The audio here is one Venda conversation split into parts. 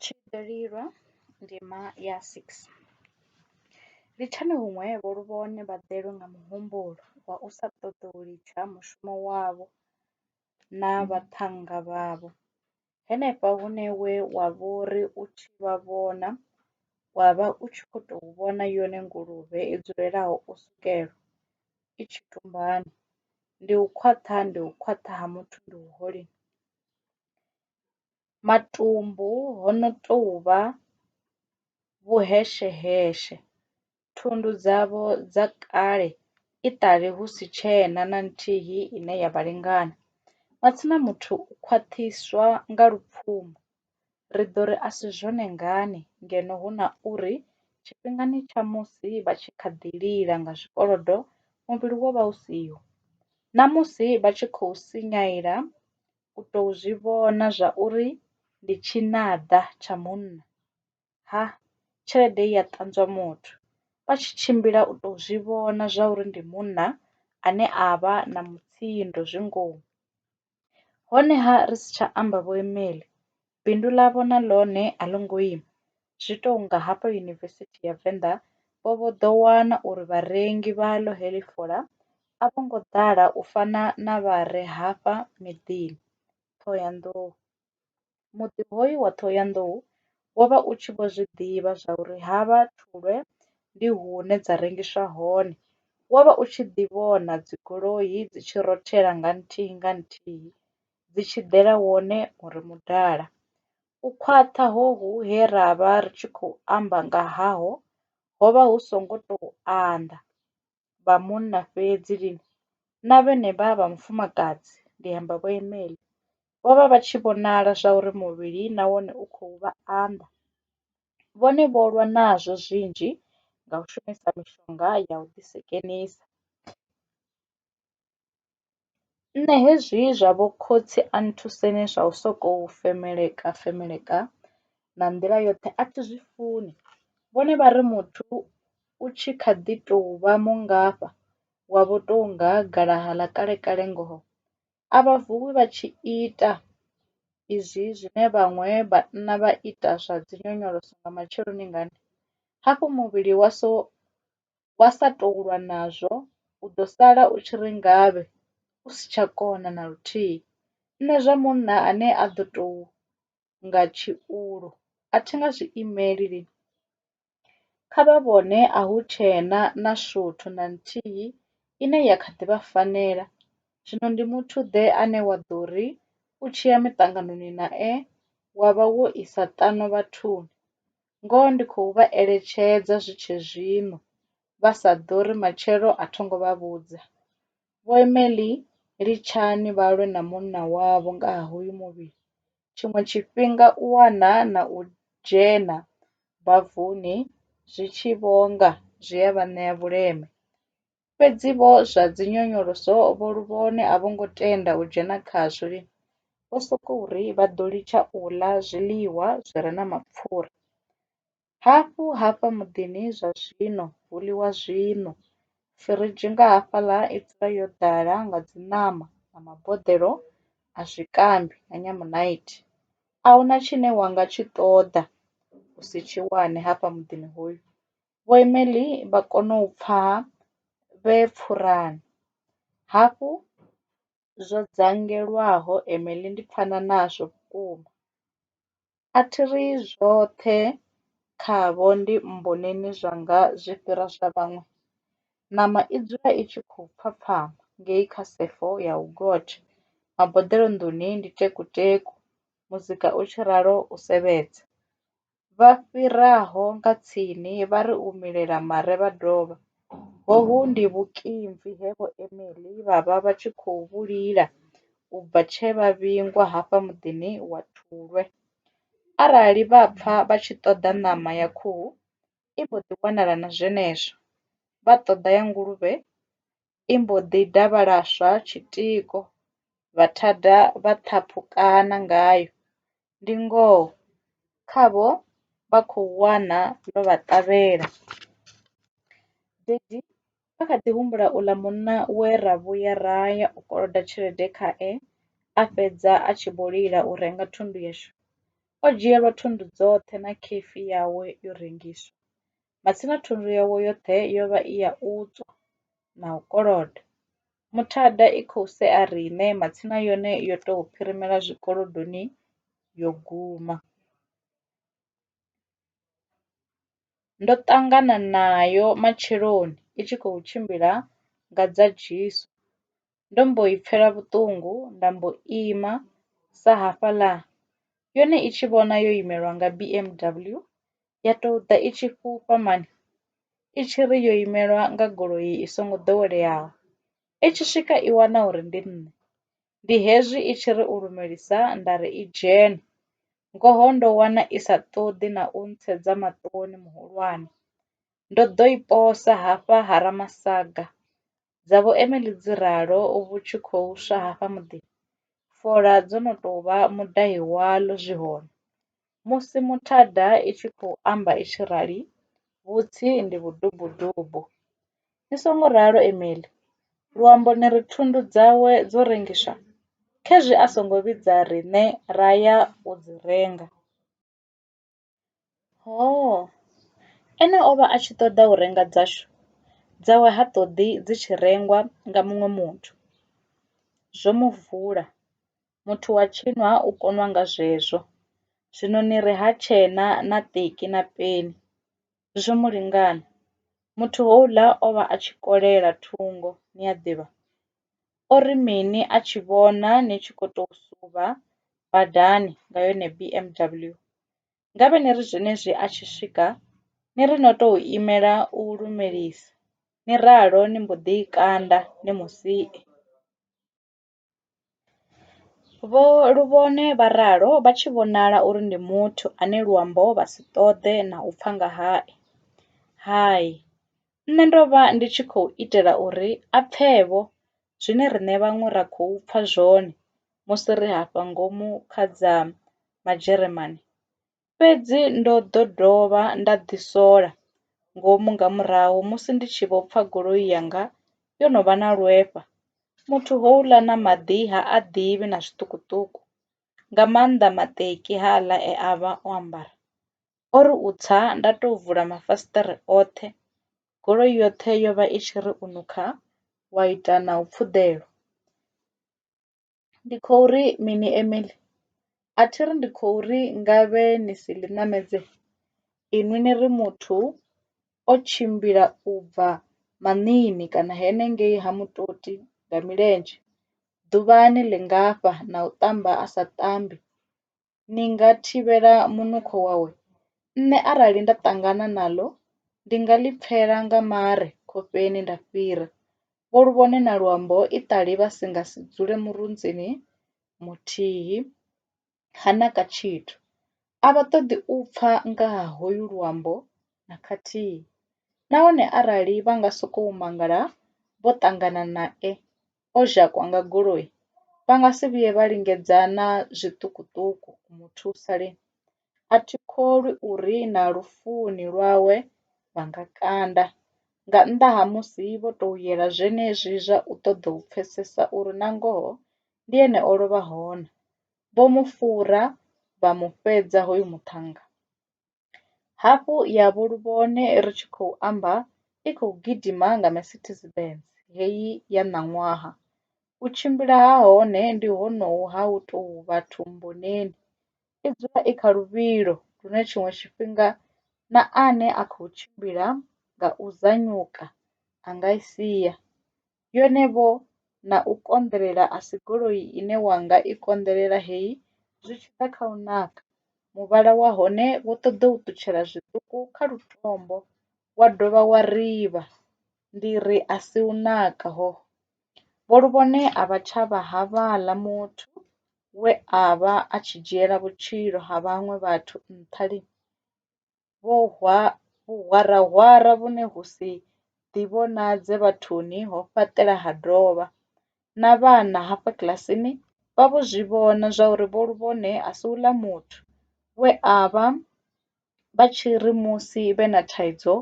Tshililelwa ndima ya 6. Litshani huṅwe vho luvhone vha ḓelwe nga muhumbulo wa u sa ṱoḓa u litsha mushumo wavho na vhaṱhannga vhavho, henefha hune we wa vho ri u tshi vha vhona wa vha u tshi khou tou vhona yone nguluvhe i dzulelaho u sukelwa i tshi tumbana. Ndi u khwaṱha, ndi u khwaṱha ha muthu ndi u holeni! Matumbu ho no tou vha vhuhesheheshe, thundu dzavho dza kale i ṱali hu si tshena na nthihi ine ya vha lingana. Matsina muthu u khwaṱhiswa nga lupfumo, Ri ḓo ri a si zwone ngani ngeno hu na uri tshifhingani tsha musi vha tshi kha ḓi lila nga zwikolodo muvhili wo vha u siho? Na musi vha tshi khou sinyaela u tou zwi vhona zwa uri ndi tshinada tsha munna, ha, tshelede i a ṱanzwa muthu, vha tshi tshimbila u tou zwi vhona zwa uri ndi munna ane a vha na mutsindo zwi ngomu. Honeha ri si tsha amba vhoimeli, bindu ḽavho na ḽone a ḽo ngo ima. Zwi tou nga hafha Yunivesithi ya Venḓa vho vho ḓo wana uri vharengi vhaḽo heḽi fola a vho ngo ḓala u fana na vha re hafha miḓini, Ṱhohoyanḓou. Muḓi hoyu wa Ṱhohoyanḓou wo vha u tshi vho zwi ḓivha zwa uri havha Thulwe ndi hune dza rengiswa hone. Wo vha u tshi ḓi vhona dzigoloi dzi tshi rothela nga nthihi nga nthihi dzi tshi ḓela wone u re mudala. U khwaṱha hohu he ra vha ri tshi khou amba nga haho ho vha hu songo tou anḓa. vha munna fhedzi lini na vhenevha vha mufumakadzi, ndi amba Vho Emely, vho vha vha tshi vhonala zwauri muvhili na wone u khou vha anḓa. Vhone vho lwa nazwo zwinzhi nga u shumisa mishonga ya u ḓisekenisa. Nṋe hezwi zwa vho khotsi a nthuseni zwa u sokou femeleka femeleka na nḓila yoṱhe a thi zwi funi vhone vha ri muthu u tshi kha ḓi tou vha mungafha wa vho tou nga galaha ḽa kale kale ngoho a vha vuwi vha tshi ita izwi zwine vhaṅwe vhanna vha ita zwa dzi nyonyoloso nga matsheloni ngani hafhu muvhili wa so wa sa tou lwa nazwo u ḓo sala u tshi ri ngavhe u si tsha kona na luthihi. Nṋe zwa munna ane a ḓo tou nga tshiulu a thi nga zwi imeli lini. Kha vha vhone a hu tshena na shuthu na nthihi ine ya kha ḓi vha fanela, zwino ndi muthu-ḓe ane wa ḓo ri u tshi ya miṱanganoni nae wa vha wo isa ṱano vhathuni? ngoho ndi khou vha eletshedza zwi tshe zwino, vha sa ḓori matshelo a tho ngo vha vhudza. Vho Emily, litshani vha lwe na munna wavho nga ha hoyu muvhili. Tshiṅwe tshifhinga u wana na u dzhena bavuni zwi tshi vho nga zwi a vha ṋea vhuleme. Fhedzi vho zwa dzinyonyoloso vho luvhone a vho ngo tenda u dzhena khazwo. Vho sokou ri vha ḓo litsha u ḽa zwiḽiwa zwi re na mapfura. Hafhu hafha muḓini zwa zwino hu ḽiwa zwiṋwe. Firidzhi nga hafhaḽa i dzula yo ḓala nga dziṋama na maboḓelo a zwikambi na nyamunaithi. A hu na tshine wa nga tshi ṱoḓa u si tshi wane hafha muḓini hoyu. Vho Emily vha kona u pfa vhe pfurani. Hafhu zwo dzangelwaho Emily ndi pfana nazwo vhukuma. A thi ri zwoṱhe khavho ndi mmboneni zwanga zwi fhira zwa vhaṅwe. Ṋama i dzula i tshi khou pfhapfhama ngei kha sefo ya u gotsha, maboḓelo nḓuni ndi tekuteku, muzika u tshi ralo u sevhedza. vha fhiraho nga tsini vha ri u milela mare vha dovha. Hohu ndi vhukimvi he Vho Emily vha vha vha tshi khou vhu lila u bva tshe vha vhingwa hafha muḓini wa Thulwe. Arali vha pfa vha tshi ṱoḓa ṋama ya khuhu, i mbo ḓi wanala na zwenezwo. Vha ṱoḓa ya nguluvhe, i mbo ḓi davhalaswa tshitiko, vha thada vha ṱhaphukana ngayo. Ndi ngoho khavho vha khou wana ḽo vha ṱavhela. Dedi a kha ḓi humbula uḽa munna we ra vhuya ra ya u koloda tshelede khae a fhedza a tshi vho lila u renga thundu yashu. O dzhielwa thundu dzoṱhe na khefi yawe yo rengiswa. matsina thundu yawo yoṱhe yo vha i ya u tswa na u koloda. Muthada i khou sea riṋe matsina yone yo tou phirimela zwikolodoni yo guma. Ndo ṱangana nayo matsheloni i tshi khou tshimbila nga dza jesu. ndo mbo i pfela vhuṱungu nda mbo ima sa hafhaḽa yone i tshi vhona yo imelwa nga B_M_W ya tou ḓa i tshi fhufha mani i tshi ri yo imelwa nga goloi i songo ḓoweleaho, i tshi swika i wana uri ndi nṋe ndi hezwi i tshi ri u lumelisa nda ri i dzhene, ngoho ndo wana i sa ṱoḓi na u ntsedza maṱoni muhulwane ndo ḓo i posa hafha ha Ramasaga Dza vho Emily dzi ralo vhu tshi khou swa hafha muḓini, fola dzo no tou vha mudai waḽo zwi hone. Musi muthada i tshi khou amba i tshi rali, vhutsi ndi vhudubudubu. Ni songo ralo Emily! Luambo ni ri thundu dzawe dzo rengiswa? Khezwi a songo vhidza riṋe ra ya u dzi renga. Hoo! Ene o vha a tshi ṱoḓa u renga dzashu, dzawe ha ṱoḓi dzi tshi rengwa nga muṅwe muthu. Zwo mu vula! Muthu wa tshino ha u konwa nga zwezwo, zwino ni ri ha tshee na ṱeki na peni. zwo mu lingana. Muthu houḽa o vha a tshi kolela thungo ni a ḓivha, o ri mini a tshi vhona ni tshi kho to suvha badani nga yone B_M_W ngavhe ni ri zwenezwi a tshi swika ni ri no to imela u lumelisa ni ralo ni mbo ḓi i kanda ni musi. Vho Luvhone vha ralo vha tshi vhonala uri ndi muthu ane luambo vha si ṱoḓe na u pfa nga hae. Hai, nṋe ndo vha ndi tshi khou itela uri a pfe-vho zwine riṋe vhaṅwe ra khou pfa zwone musi ri hafha ngomu kha dza Majeremane. Fhedzi ndo ḓo dovha nda ḓisola ngomu nga murahu musi ndi tshi vho pfa goloi yanga yo no vha na lwefha. Muthu houḽa na maḓi ha a ḓivhi na zwiṱukuṱuku, nga maanḓa maṱeki haaḽa e a vha o ambara. O ri u tsa nda tou vula mafasiṱere oṱhe, goloi yoṱhe yo vha i tshi ri u nukha wa ita na u pfuḓelwa. Ndi khou ri mini Emily? A thi ri ndi khou ri ngavhe ni si ḽi ṋamedze inwi ni ri muthu o tshimbila u bva maṋiini kana henengei ha mutoti nga milenzhe ḓuvhani ḽingafha na u ṱamba a sa ṱambi ni nga thivhela munukho wawe? Nṋe arali nda ṱangana naḽo, ndi nga ḽi pfela nga mare khofheni nda fhira. Vho Luvhone na Luambo iṱali vha si nga si dzule murunzini muthihi, ha naka tshithu. A vha ṱoḓi u pfa nga ha hoyu Luambo na khathihi nahone arali vha nga sokou mangala vho ṱangana nae, o dzhakwa nga goloi vha nga si vhuye vha lingedza na zwiṱukuṱuku u mu thusa lini? A thi kholwi uri na lufuni lwawe vha nga kanda, nga nnḓa ha musi vho tou yela zwenezwi zwa u ṱoḓa u pfesesa uri nangoho ndi ene o lovhaho na. Vho mu fhura vha mu fhedza hoyu muṱhannga. Hafhu ya vho Luvhone ri tshi khou amba i khou gidima nga Mercedes Benz heyi ya ṋaṅwaha. U tshimbila ha hone ndi honohu ha u tou vha thumbuneni. I dzula i kha luvhilo lune tshiṅwe tshifhinga na ane a khou tshimbila nga u zanyuka a nga i sia. yone vho na u konḓelela a si goloi ine wa nga i konḓelela heyi zwi tshi ḓa kha u naka, muvhala wa hone wo ṱoḓa u ṱutshela zwiṱuku kha lutombo wa dovha wa rivha ndi ri a si u naka hoho. Vho Luvhone a vha tsha vha havhaḽa muthu we a vha a tshi dzhiela vhutshilo ha vhaṅwe vhathu nṱha lini. vhuhwarahwara vhune hu si ḓivhonadze vhathuni ho fhaṱela ha dovha, na vhana hafha kiḽasini vha vho zwi vhona zwauri Vho Luvhone a si uḽa muthu we a vha vha tshi ri musi vhe na thaidzo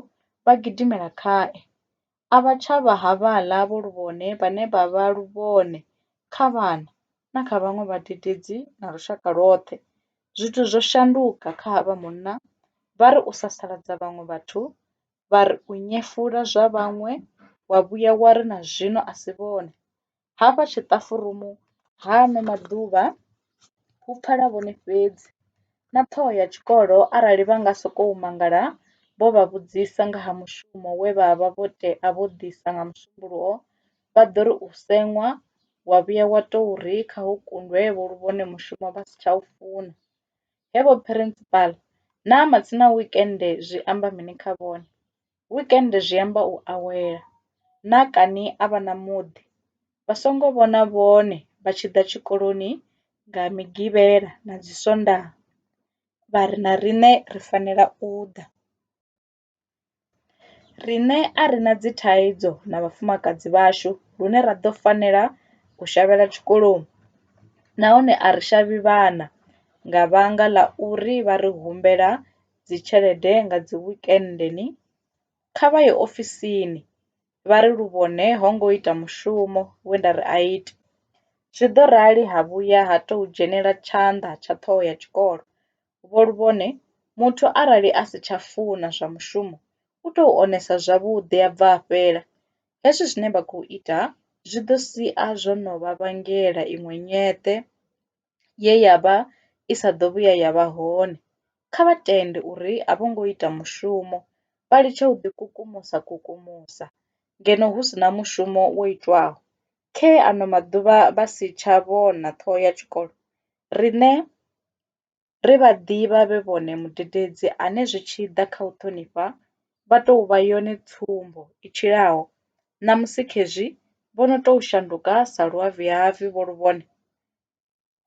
vha gidimela khae. a vha tsha vha havhaḽa vho lu vhone vhane vha vha lu vhone kha vhana na kha vhaṅwe vhadededzi na lushaka lwoṱhe. Zwithu zwo shanduka kha havha munna, vha ri u sasaladza vhaṅwe vhathu, vha ri u nyefula zwa vhaṅwe, wa vhuya wa ri na zwino a si vhone. Hafha tshiṱafurumu ha ano maḓuvha hu pfala vhone fhedzi na ṱhoho ya tshikolo arali vha nga sokou mangala vho vha vhudzisa nga ha mushumo we vha vha vho tea vho ḓisa nga musumbulowo vha ḓo ri u seṅwa wa vhuya wa tou ri kha hu kundwe vho lu vhone mushumo vha si tsha u funa. Hevho phirinsipala naa matsina wekende zwi amba mini kha vhone? Weekend zwi amba u awela. Naa kani a vha na muḓi? Vha songo vhona vhone vha tshi ḓa tshikoloni nga Migivhela na dzi Sondaha vha ri na riṋe ri fanela u ḓa. Riṋe a ri na dzi thaidzo na vhafumakadzi vhashu lune ra ḓo fanela u shavhela tshikoloni nahone a ri shavhi vhana nga vhanga ḽa uri vha ri humbela dzi tshelede nga dzi wekende ni kha vha ye ofisini vha ri luvhone ho ngo ita mushumo we nda ri a ite. Zwi ḓo rali ha vhuya ha tou dzhenela tshanḓa tsha ṱhoho ya tshikolo. Vho Luvhone, Muthu arali a si tsha funa zwa mushumo u tou onesa zwavhuḓi a bva a fhela. Hezwi zwine vha khou ita zwi ḓo sia zwo no vha vhangela iṅwe nyeṱe. ye ya vha i sa ḓo vhuya ya vha hone. Kha vha tende uri a vho ngo ita mushumo, vha litshe u ḓikukumusa kukumusa ngeno hu si na mushumo wo itwaho. Khee ano maḓuvha vha si tsha vhona ṱhoho ya tshikolo, riṋe ri vha ḓivha vhe vhone mudededzi ane zwi tshi ḓa kha u ṱhonifha vha tou vha yone tsumbo i tshilaho, ṋamusi khezwi vho no tou shanduka sa luavhiavhi vho lu vhone.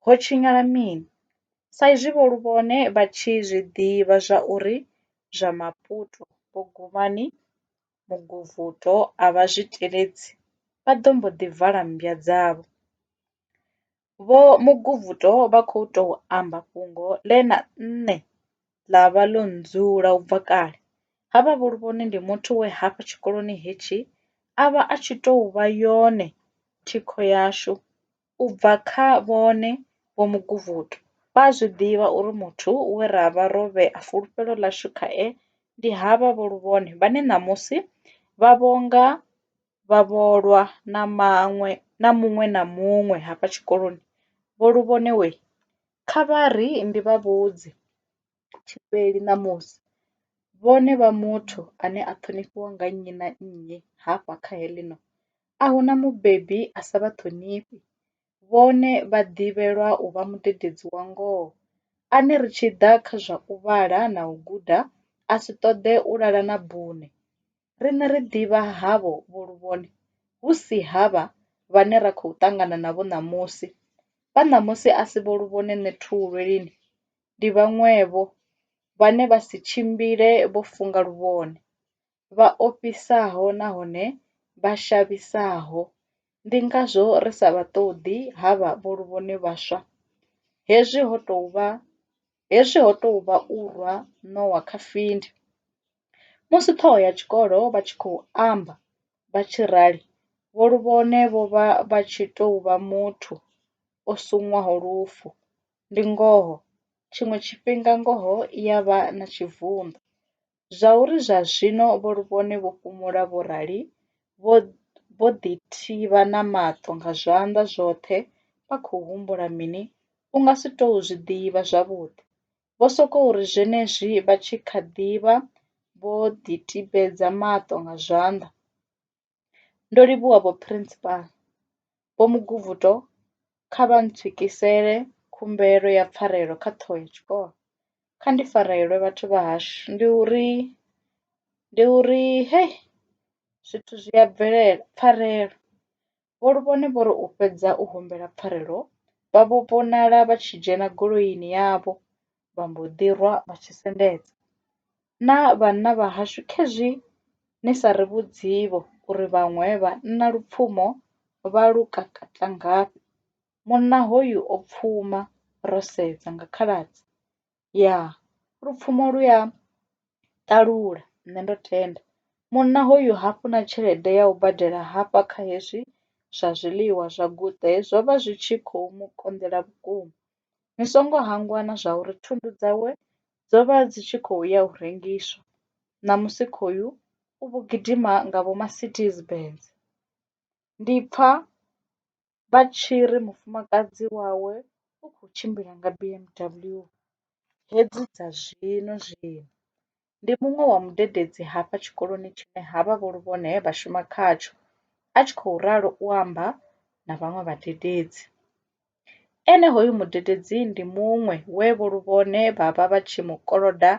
Ho tshinyala mini? Sa izwi vho Luvhone vha tshi zwi ḓivha zwauri zwa Maputo, Bugumani, Muguvhuto a vha zwi teledzi, vha ḓo mbo ḓi vala mmbwa dzavho. Vho Muguvhuto vha khou tou amba fhungo ḽe na nṋe ḽa vha ḽo ndzula u bva kale. Havha vho Luvhone ndi muthu we hafha tshikoloni hetshi a vha a tshi tou vha yone thikho yashu. U bva kha vhone, Vho Muguvhutu, vha a zwi ḓivha uri muthu we ra vha ro vhea fulufhelo ḽashu khae ndi havha Vho Luvhone vhane ṋamusi vha vhonga vhavholwa na maṅwe na muṅwe na muṅwe hafha tshikoloni. Vho Luvhone wee! Kha vha ri ndi vha vhudze. tshifheli ṋamusi. Vhone vha muthu ane a ṱhonifhiwa nga nnyi na nnyi hafha kha heḽino, a hu na mubebi a sa vha ṱhonifhi. Vhone vha ḓivhelwa u vha mudededzi wa ngoho, ane ri tshi ḓa kha zwa u vhala na u guda a si ṱoḓe u lala na bune. Riṋe ri ḓivha havho vho luvhone, hu si havha vhane ra khou ṱangana navho ṋamusi. Vha ṋamusi a si vho luvhone nṋe Thuvhulwe lini? ndi vhaṅwevho, vhane vha si tshimbile vho funga luvhone, vha ofhisaho nahone vha shavhisaho, ndi ngazwo ri sa vha ṱoḓi havha vho luvhone vhaswa. Hezwi ho tou vha hezwi ho tou vha u rwa ṋowa kha findi. Musi ṱhoho ya tshikolo vha tshi khou amba vha tshi rali, vho luvhone vho vha vha tshi tou vha muthu o sinywaho lufu, Ndi ngoho, tshiṅwe tshifhinga ngoho i ya vha na tshivhundo. Zwauri zwa zwino vho Luvhone vho fhumula vho rali vho ḓithivha na maṱo nga zwanḓa zwoṱhe vha khou humbula mini u nga si tou zwi ḓivha zwavhuḓi. Vho sokou ri zwenezwi vha tshi kha ḓi vha vho ḓitibedza maṱo nga zwanḓa, Ndo livhuwa vho Principal, Vho Muguvhuto kha vha ntswikisele khumbelo ya pfarelo kha ṱhoho ya tshikolo. Kha ndi farelwe vhathu vha hashu ndi uri ndi uri hei zwithu zwi a bvelela pfarelo. Vho Luvhone vho ri u fhedza u humbela pfarelo vha vho vhonala vha tshi dzhena goloini yavho vha mbo ḓi rwa vha tshi sendedza. Na vhanna vha hashu khezwi ni sa ri vhudzivho uri vhaṅwe vhanna lupfumo vha lu kakata ngafhi. Munna hoyu o pfuma ro sedza nga khaladzi ya lupfumo lu ya ṱalula nṋe ndo tenda. Munna hoyu ha funa tshelede ya u badela hafha kha hezwi zwa zwiḽiwa zwa guṱe zwo vha zwi tshi kho mu konḓela vhukuma. Ni songo hangwa na zwa uri thundu dzawe dzo vha dzi tshi khou ya u rengiswa, ṋamusi khoyu u vho gidima nga vhoMarcedes Benz. Ndi pfa vha tshi ri mufumakadzi wawe u khou tshimbila nga BMW hedzi dza zwino zwino. ndi muṅwe wa mudededzi hafha tshikoloni tshine havha vho Luvhone he vha shuma khatsho, a tshi khou ralo u amba na vhaṅwe vhadededzi. Ene hoyu mudededzi ndi muṅwe we vho Luvhone vha vha vha tshi mu koloda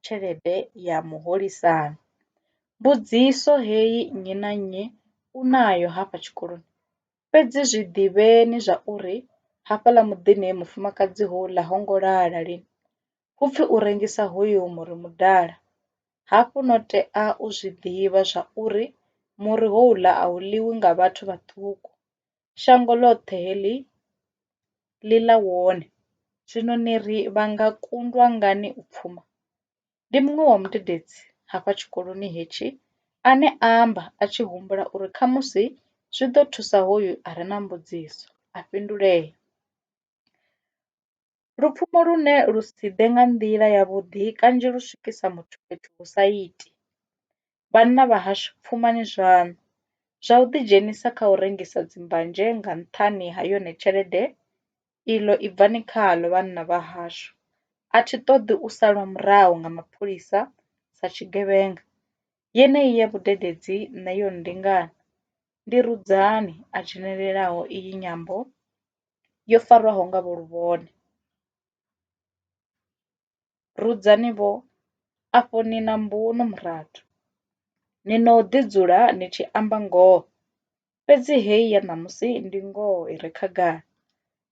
tshelede ya muholisano. Mbudziso heyi nnyi na nnyi u nayo hafha tshikoloni, fhedzi zwi ḓivheni zwa uri hafhaḽa muḓini mufumakadzi houḽa ho ngo lala lini. hu pfi u rengisa hoyu muri mudala, hafhu no tea u zwi ḓivha zwa uri muri houḽa a u ḽiwi nga vhathu vhaṱuku shango ḽoṱhe heḽi ḽi ḽa wone, zwino ni ri vha nga kundwa ngani u pfuma? Ndi muṅwe wa mudededzi hafha tshikoloni hetshi ane a amba a tshi humbula uri khamusi zwi ḓo thusa hoyu a re na mbudziso a fhindulea. Lupfumo lune lu si ḓe nga nḓila ya vhuḓi kanzhi lu swikisa muthu fhethu hu sa iti. Vhanna vha hashu pfumani zwaṋu, zwa u ḓi dzhenisa kha u rengisa dzi mbanzhe nga nṱhani ha yone tshelede iḽo i bvani khaḽo vhanna vha hashu. A thi ṱoḓi u salwa murahu nga mapholisa sa tshigevhenga, yeneyi ya vhudededzi nṋe yo nndingana. Ndi Rudzani a dzhenelelaho iyi nyambo. yo farwaho nga vho luvhone. Rudzani vho, afho ni na mbuno murathu, ni no ḓi dzula ni tshi amba ngoho, fhedzi heyi ya ṋamusi ndi ngoho i re khagala.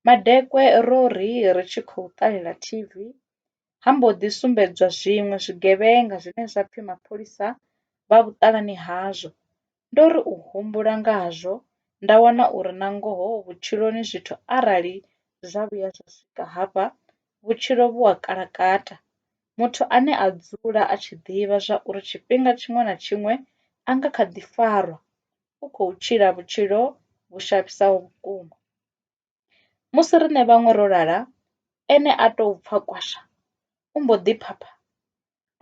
Madekwe ro ri ri tshi khou ṱalela TV ha mbo ḓi sumbedzwa zwiṅwe zwigevhenga zwine zwa pfi mapholisa vha vhuṱalani hazwo Ndo ri u humbula ngazwo nda wana uri na ngoho vhutshiloni zwithu arali zwa vhuya zwa swika hafha vhutshilo vhu a kalakata. Muthu ane a dzula a tshi ḓivha zwa uri tshifhinga tshiṅwe na tshiṅwe a nga kha ḓi farwa u khou tshila vhutshilo vhu shavhisaho vhukuma. Musi riṋe vhaṅwe ro lala ene a tou pfa kwasha u mbo ḓi phapha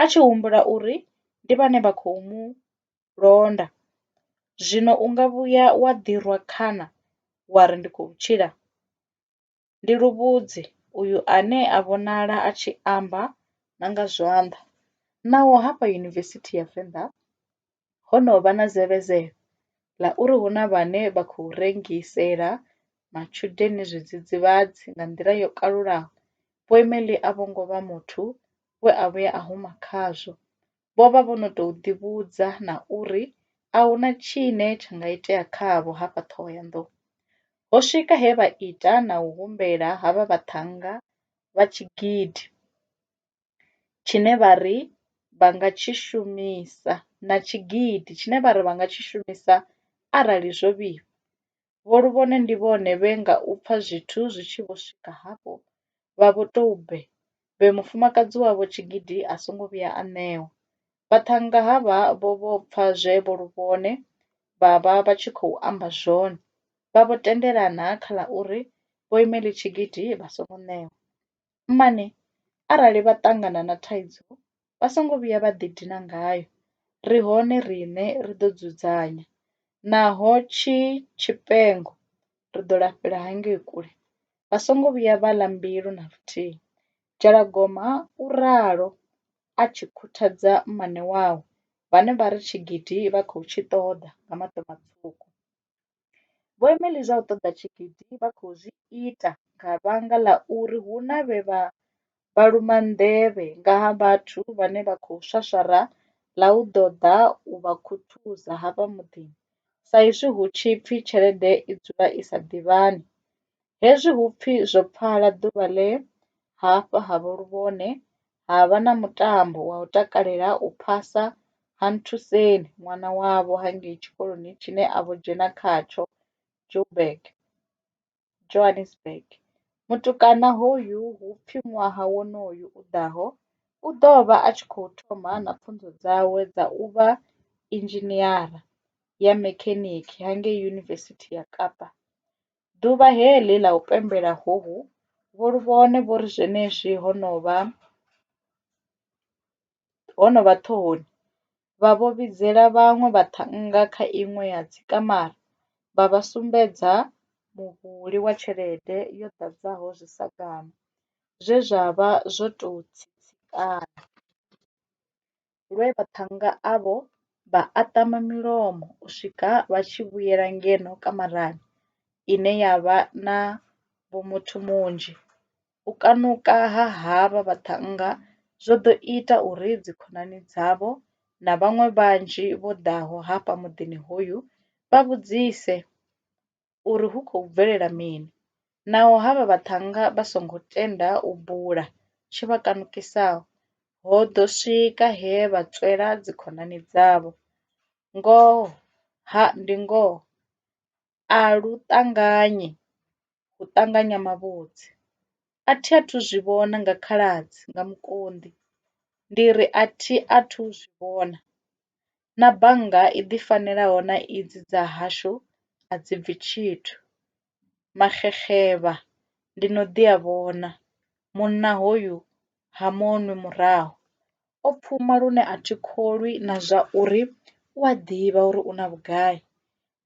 a tshi humbula uri ndi vhane vha khou mu londa. Zwino u nga vhuya wa ḓi rwa khana wa ri, Ndi khou tshila! Ndi luvhudzi uyu ane a vhonala a tshi amba na nga zwanḓa. Naho hafha Yunivesithi ya Venḓa ho no vha na zevezelo ḽa uri hu na vhane vha khou rengisela matshudeni zwidzidzivhadzi nga nḓila yo kalulaho, Boimmel a vho ngo vha muthu we a vhuya a huma khazwo. vho vha vho no tou ḓivhudza na uri a hu na tshine tsha nga itea khavho hafha Ṱhohoyanḓou. Ho swika he vha ita na u humbela ha vha vhaṱhannga vha tshigidi tshine vha ri vha nga tshi shumisa na tshigidi tshine vha ri vha nga tshi shumisa arali zwo vhifha. Vho Luvhone ndi vhone vhe nga u pfa zwithu zwi tshi vho swika hafho vha vho tou bve bve mufumakadzi wavho tshigidi a songo vhuya a ṋewa. Vhaṱhannga havha vho vho pfa zwe Vho Luvhone vha vha vha tshi khou amba zwone, vha vho tendelana kha ḽa uri Vho Imelitshigidi vha songo ṋewa. mmane arali vha ṱangana na thaidzo vha songo vhuya vha ḓidina ngayo, ri hone riṋe ri ḓo dzudzanya, naho tshi tshifhengo ri ḓo lafhela hangei kule. Vha songo vhuya vha ḽa mbilu na luthihi. Dzhalagoma u ralo a tshi khuthadza mmane wawe, vhane vha ri tshigidi vha khou tshi ṱoḓa nga maṱo matswuku. Vhoimeli zwa u ṱoḓa tshigidi vha khou zwi ita nga vhanga ḽa uri hu na vhe vha vhaluma nḓevhe nga ha vhathu vhane vha khou swaswara ḽa u ḓo ḓa u vha khuthuza hafha muḓini, sa izwi hu tshi pfi tshelede i dzula i sa ḓivhani. Hezwi hu pfi zwo pfala ḓuvha ḽe hafha ha vho luvhone ha vha na mutambo wa u takalela u phasa ha Nthuseni ṅwana wavho ha ngei tshikoloni tshine a vho dzhena khatsho Joburg, Johannesburg. Mutukana hoyu hu pfi ṅwaha wonoyu u ḓaho u ḓo vha a tshi khou thoma na pfunzo dzawe dza u vha inzhiniara ya mekhenikha ha ngei Yunivesithi ya Kapa Ḓuvha he ḽi ḽa u pembela hohu vho lu vhone vho ri zwenezwi ho no vha ho no vha ṱhohoni, vha vho vhidzela vhaṅwe vhaṱhannga kha iṅwe ya dzikamara vha vha sumbedza muvhuli wa tshelede yo ḓadzaho zwisagala zwe zwa vha zwo tou tsitsikana. lwe vhaṱhannga avho vha aṱama milomo u swika vha tshi vhuyela ngeno kamarani ine ya vha na vhomuthu munzhi. U kanuka ha havha vhaṱhannga zwo ḓo ita uri dzikhonani dzavho na vhaṅwe vhanzhi vho ḓaho hafha muḓini hoyu vha vhudzise uri hu khou bvelela mini, naho havha vhaṱhannga vha songo tenda u bula tshi vha kanukisaho, ho ḓo swika he vha tswela dzikhonani dzavho. Ngoho, ha, ndi ngoho, a lu ṱanganyi u ṱanganya mavhudzi. A thi a thu zwi vhona nga khaladzi nga mukonḓi, ndi ri a thi a thu zwi vhona. na bannga i ḓi fanelaho na idzi dza hashu a dzi bvi tshithu. Maxexevha ndi no ḓi a vhona, munna hoyu ha mu nwi murahu. O pfuma lune a thi kholwi na zwa uri u a ḓivha uri u na vhugai.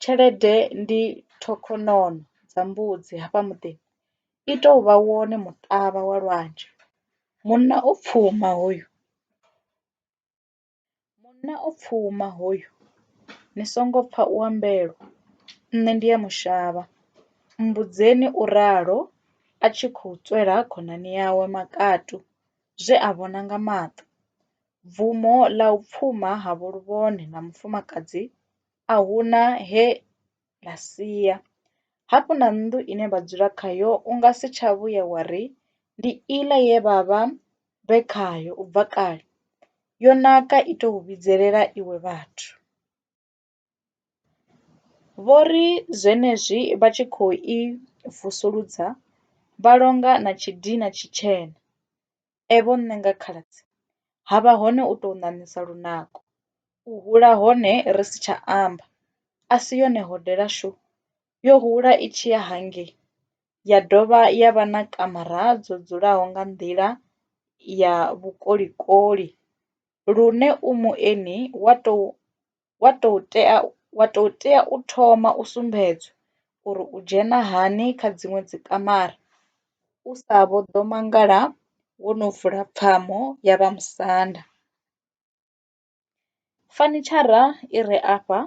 Tshelede ndi ṱhokhonono dza mbudzi hafha muḓini, i tou vha wone muṱavha wa lwanzhe. Munna o pfuma hoyu. Munna o pfuma hoyu, ni songo pfa u ambelwa, nṋe ndi a mu shavha. Mmbudzeni, u ralo a tshi khou tswela khonani yawe makatu zwe a vhona nga maṱo. Bvumo ḽa u pfuma ha vho Luvhone na mufumakadzi a hu na he ḽa sia. Hafhu na nnḓu ine vha dzula khayo u nga si tsha vhuya wa ri ndi iḽa ye vha vha vhe khayo u bva kale, yo naka i tou vhidzelela iwe vhathu. Vho ri zwenezwi vha tshi khou i vusuludza vha longa na tshidina tshitshena, e vho nṋe nga khaladzi, ha vha hone u tou ṋaṋisa lunako, u hula hone ri si tsha amba, a si yone hodela shu, yo hula i tshi ya hangei ya dovha ya vha na kamara dzo dzulaho nga nḓila ya vhukolikoli lune u mueni wa tou wa tou tea wa tou tea u thoma u sumbedzwa uri u dzhena hani kha dziṅwe dzi kamara u sa vho ḓo mangala wo no vula pfamo ya vha musanda. Fanitshara i re afha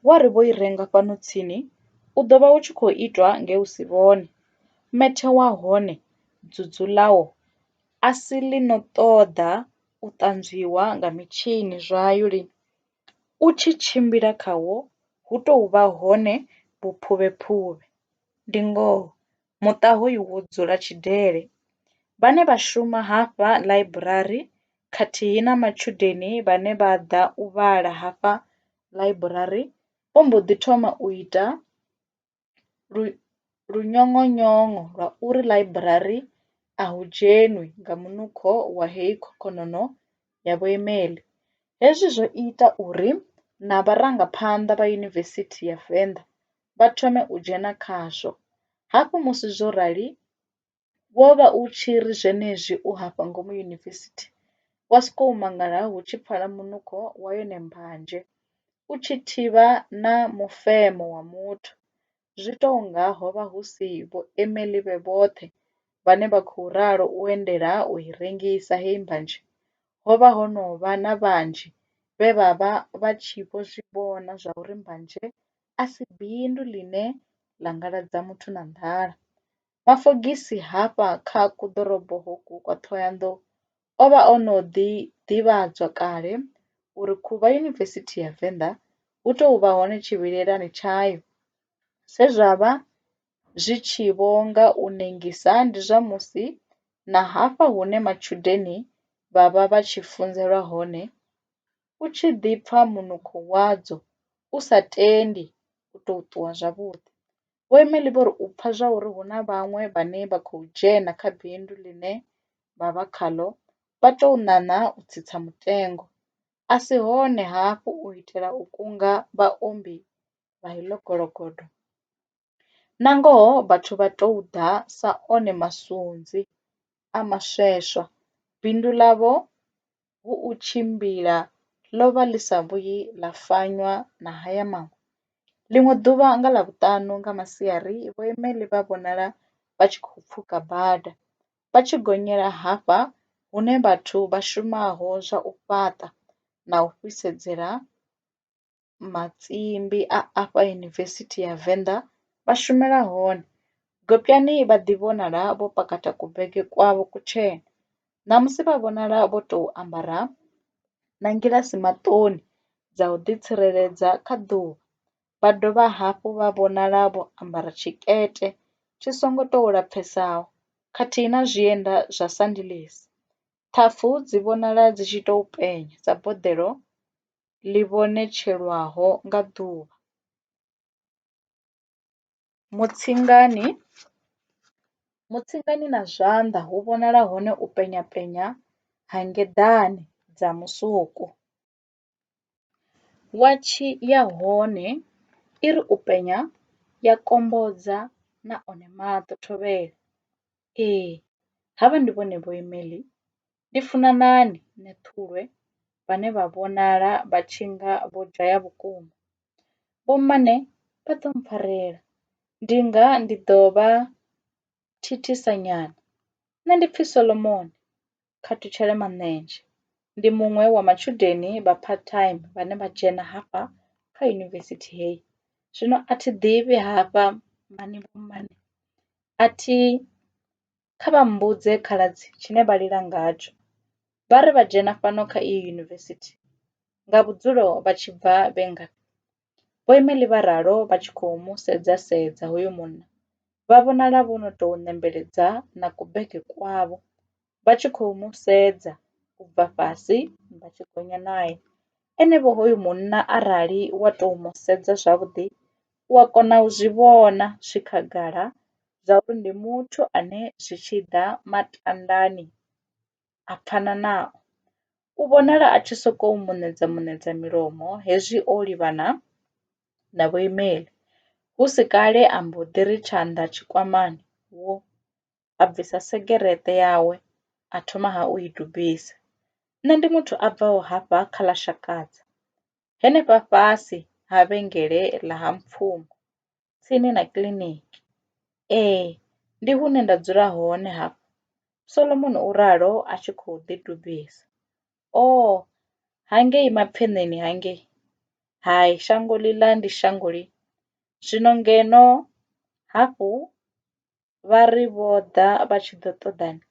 wa ri vho i renga fhano tsini u ḓo vha u tshi khou itwa nge u si vhone, methe wa hone, dzudzu ḽawo a si ḽi no ṱoḓa u ṱanzwiwa nga mitshini zwayo lini. U tshi tshimbila khawo hu tou vha hone vhuphuvhephuvhe. Ndi ngoho, muṱa hoyu wo dzula tshidele. Vhane vha shuma hafha ḽaiburari khathihi na matshudeni vhane vha ḓa u vhala hafha ḽaiburari vho mbo ḓi thoma u ita lu luṅoṅoṅo lwa uri ḽaiburari a hu dzhenwi nga munukho wa heyi khokhonongo ya vhuimeli. Hezwi zwo ita uri na vharangaphanḓa vha Yunivesithi ya Venḓa vha thome u dzhena khazwo. Hafhu musi zwo rali Wo vha u tshi ri zwenezwi u hafha ngomu yunivesithi, wa sokou mangala hu tshi pfala munukho wa yone mbanzhe u tshi thivha na mufemo wa muthu, zwi tou nga ho vha hu si Vho-Emily vhe vhoṱhe vhane vha khou ralo u endela u i rengisa heyi mbanzhe. Ho vha ho no vha na vhanzhi vhe vha vha vha tshi vho zwi vhona zwauri mbanzhe a si bindu ḽine ḽa ngaladza muthu na nḓala. Mafogisi hafha kha kuḓorobo hoku kwa Thohoyandou o vha o no ḓi ḓivhadzwa kale uri khuvha Yunivesithi ya Venḓa hu tou vha hone tshivhilelani tshayo. Zwe zwa vha zwi tshi vho nga u nengisa ndi zwa musi na hafha hune matshudeni vha vha vha tshi funzelwa hone u tshi ḓi pfa munukho wadzo u sa tendi u tou ṱuwa zwavhuḓi. Vho Emily vho ri u pfa zwa uri hu na vhaṅwe vhane vha khou dzhena kha bindu ḽine vha vha khaḽo vha tou ṋaṋa u tsitsa mutengo a si hone hafhu u itela u kunga vhaombi vha heḽo gologodo. Nangoho vhathu vha tou ḓa sa one masunzi a masweswa, bindu ḽavho hu u tshimbila ḽo vha ḽi sa vhuyi ḽa fanywa na haya maṅwe. Ḽiṅwe ḓuvha nga Ḽavhuṱanu nga masiari vhoimeli vha vhonala vha tshi khou pfuka bada vha tshi gonyela hafha hune vhathu vha shumaho zwa u fhaṱa na u fhisedzela matsimbi a afha Yunivesithi ya Venḓa vha shumela hone. Gopyani vha ḓi vhonala vho pakata kubege kwavho kutshena, ṋamusi vha vhonala vho tou ambara na ngilasi maṱoni dza u ḓi tsireledza kha ḓuvha, vha dovha hafhu vha vhonala vho ambara tshikete tshi songo tou lapfhesaho khathihi na zwienda zwa sandilisi. Ṱhafu dzi vhonala dzi tshi tou penya sa boḓelo ḽi vhonetshelwaho nga ḓuvha. Mutsingani, Mutsingani na zwanḓa hu vhonala hone u penya penya ha ngeḓane dza musuku. Watshi ya hone i ri u penya ya kombodza na one maṱo thovhele, ee havha ndi vhone vho Emeḽi Ndi funa nani nṋe Ṱhulwe vhane vha vhonala vha tshi nga vho dzhaya vhukuma? Vho mmane vha ḓo mpfarela ndi nga ndi ḓo vha thithisa nyana. Nṋe ndi pfi Solomoni Khathutshele Manenzhe ndi muṅwe wa matshudeni vha part time vhane vha dzhena hafha kha yunivesithi hei. Zwino a thi ḓivhi hafha mmane mmane a thi kha vha mmbudze khaladzi tshine vha lila ngatsho. Vha ri vha dzhena fhano kha iyi yunivesithi nga vhudzulo vha tshi bva vhe ngafhi? Vho Emily vha ralo vha tshi khou mu sedza sedza hoyo munna vha vhonala vho no tou nembeledza na kubege kwavho vha tshi khou mu sedza u bva fhasi vha tshi gonya nae. Enevho hoyu munna arali wa tou mu sedza zwavhuḓi u a kona u zwi vhona zwi khagala zwa uri ndi muthu ane zwi tshi ḓa matandani a pfana nao. U vhonala a tshi sokou muṋedza muṋedza milomo hezwi o livhana na vhoimeli. Hu si kale a mbo ḓi ri tshanḓa tshikwamani wo a bvisa segereṱe yawe a thoma ha u i dubisa. Nṋe ndi muthu a bvaho hafha kha ḽa Shakadza henefha fhasi ha vhengele ḽa Ha Mpfumo, tsini na kiḽiniki. Ee, ndi hune nda dzula hone hafha, Solomon u ralo a tshi khou ḓidubisa. Oo, hangei mapfeṋeni hangei! Hai, shango ḽiḽa ndi shango ḽi. Zwino ngeno hafhu vha ri vho ḓa vha tshi ḓo ṱoḓani?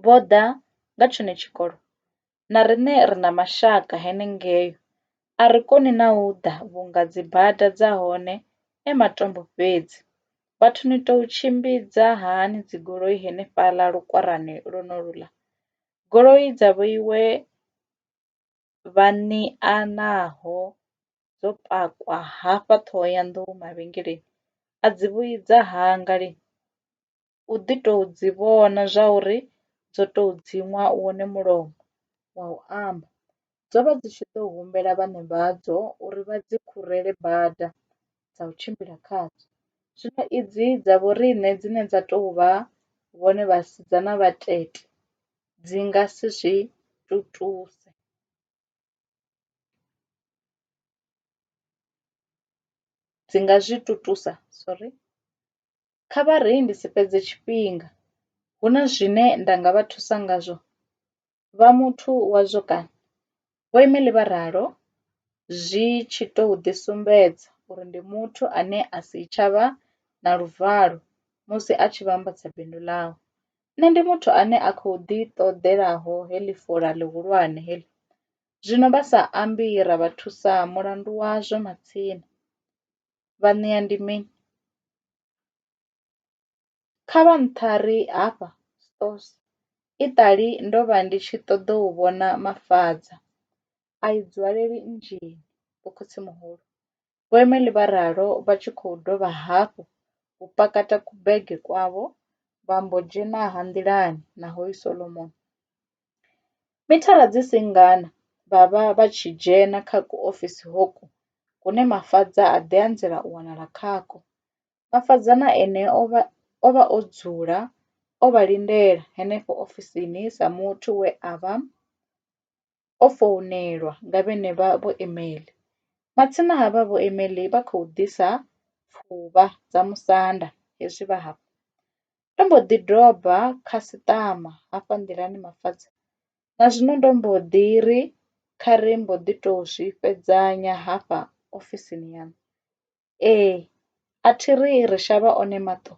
vho ḓa nga tshone tshikolo na riṋe ri na mashaka henengei. A ri koni na u ḓa vhunga dzibada dza hone e matombo fhedzi. Vhathu ni tou tshimbidza hani dzigoloi henefhaḽa lukwarani lwonoluḽa? Goloi dza vhoiwe vhaṋe a naho dzo pakwa hafha Ṱhohoyanḓou mavhengeleni a dzi vhuyi dza hanga lini? u ḓi to dzi vhona zwa uri dzo to dziṅwa wone mulomo wa u amba. Dzo vha dzi tshi ḓo humbela vhaṋe vhadzo uri vha dzi khurele bada dza u tshimbila khadzo, zwino idzi dza vho riṋe dzine dza tou vha vhone vhasidzana vhatete dzi nga si zwi tutuse. Dzi nga zwi tutusa sorry. Kha vha ri ndi si fhedze tshifhinga, hu na zwine nda nga vha thusa ngazwo? Vha muthu wazwo kana? Vho Emily vha ralo, zwi tshi tou ḓisumbedza uri ndi muthu ane a si tsha vha na luvalo musi a tshi vhambadza bindu ḽawe. Nṋe ndi muthu ane a khou ḓiṱoḓelaho heḽi fola ḽihulwane heḽi, zwino vha sa ambi ra vha thusa mulandu wazwo matsina. vha ṋea ndi mini? Kha vha nṱha ri hafha stores iṱali ndo vha ndi tshi ṱoḓa u vhona Mafadza a i nzwaleli nzhii Vho Khotsimuhulu Vho Emily vha ralo vha tshi khou dovha hafhu u pakata kubege kwavho vha mbo dzhena ha nḓilani na Hoyu Solomoni. Mithara dzi si ngana vha vha vha tshi dzhena kha kuofisi hoko hune Mafadza a ḓi anzela u wanala khakwo. Mafadza na ene o vha o vha o dzula o vha lindela henefho ofisini sa muthu we a vha o founelwa nga vhenevha vho Emeḽi. Matsina havha vho Emeḽi vha khou ḓisa pfuvha dza musanda hezwi vha hafha. Ndo mbo ḓi doba khasiṱama hafha nḓilani Mafatshe na zwino ndo mbo ḓi ri kha ri mbo ḓi to zwi fhedzanya hafha ofisini yaṋu. Ee a thi ri ri shavha one maṱo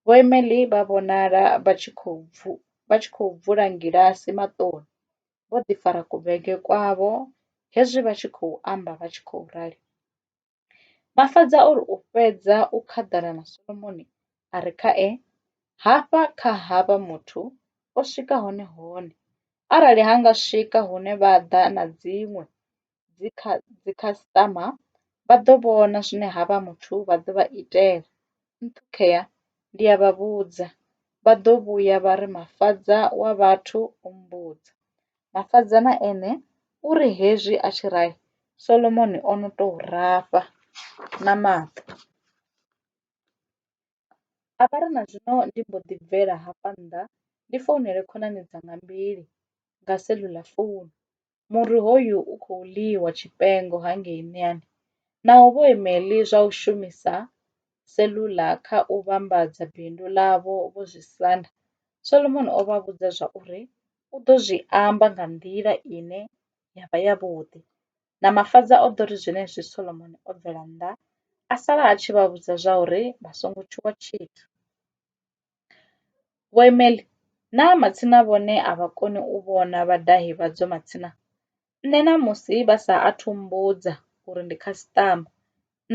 vho Emely vha vhonala vha tshi khou bvu vha tshi khou bvula ngilasi maṱoni vho ḓi fara ku bege kwavho hezwi vha tshi khou amba vha tshi khou rali. Mafhaza o ri, U fhedza u khaḓana na Solomoni a re khae, hafha kha havha muthu o swika hone hone, arali ha nga swika hune vha ḓa na dziṅwe dzikhasitama vha ḓo vhona zwine havha muthu vha ḓo vha itela, nṱhukhea ndi a vha vhudza, vha ḓo vhuya vha ri Mafhaza wa vhathu o mmbudza. Mafhaza na ene u ri, Hezwi a tshi raha, Solomoni o no tou rafha na maṱo. A vha ri, Na zwino ndi mbo ḓi bvela hafha nnḓa ndi founele khonani dzanga mbili nga cellular founu. Muri hoyu u khou ḽiwa tshifhengo hangei miḓini. Naho vho Emily zwa u shumisa cellular kha u vhambadza bindu ḽavho vho zwi sanda, Solomoni o vha vhudza zwa uri u ḓo zwi amba nga nḓila ine ya vha ya vhuḓi na mafhaṱa o ḓo ri zwenezwi Solomoni o bvela nnḓa a sala a tshi vha vhudza zwa uri vha songo tshuwa tshithu. Vho Imeli, Naa matsina vhone a vha koni u vhona vhadahi vhadzo matsina? Nṋe ṋamusi vha sa athu mmbudza uri ndi khasiṱama,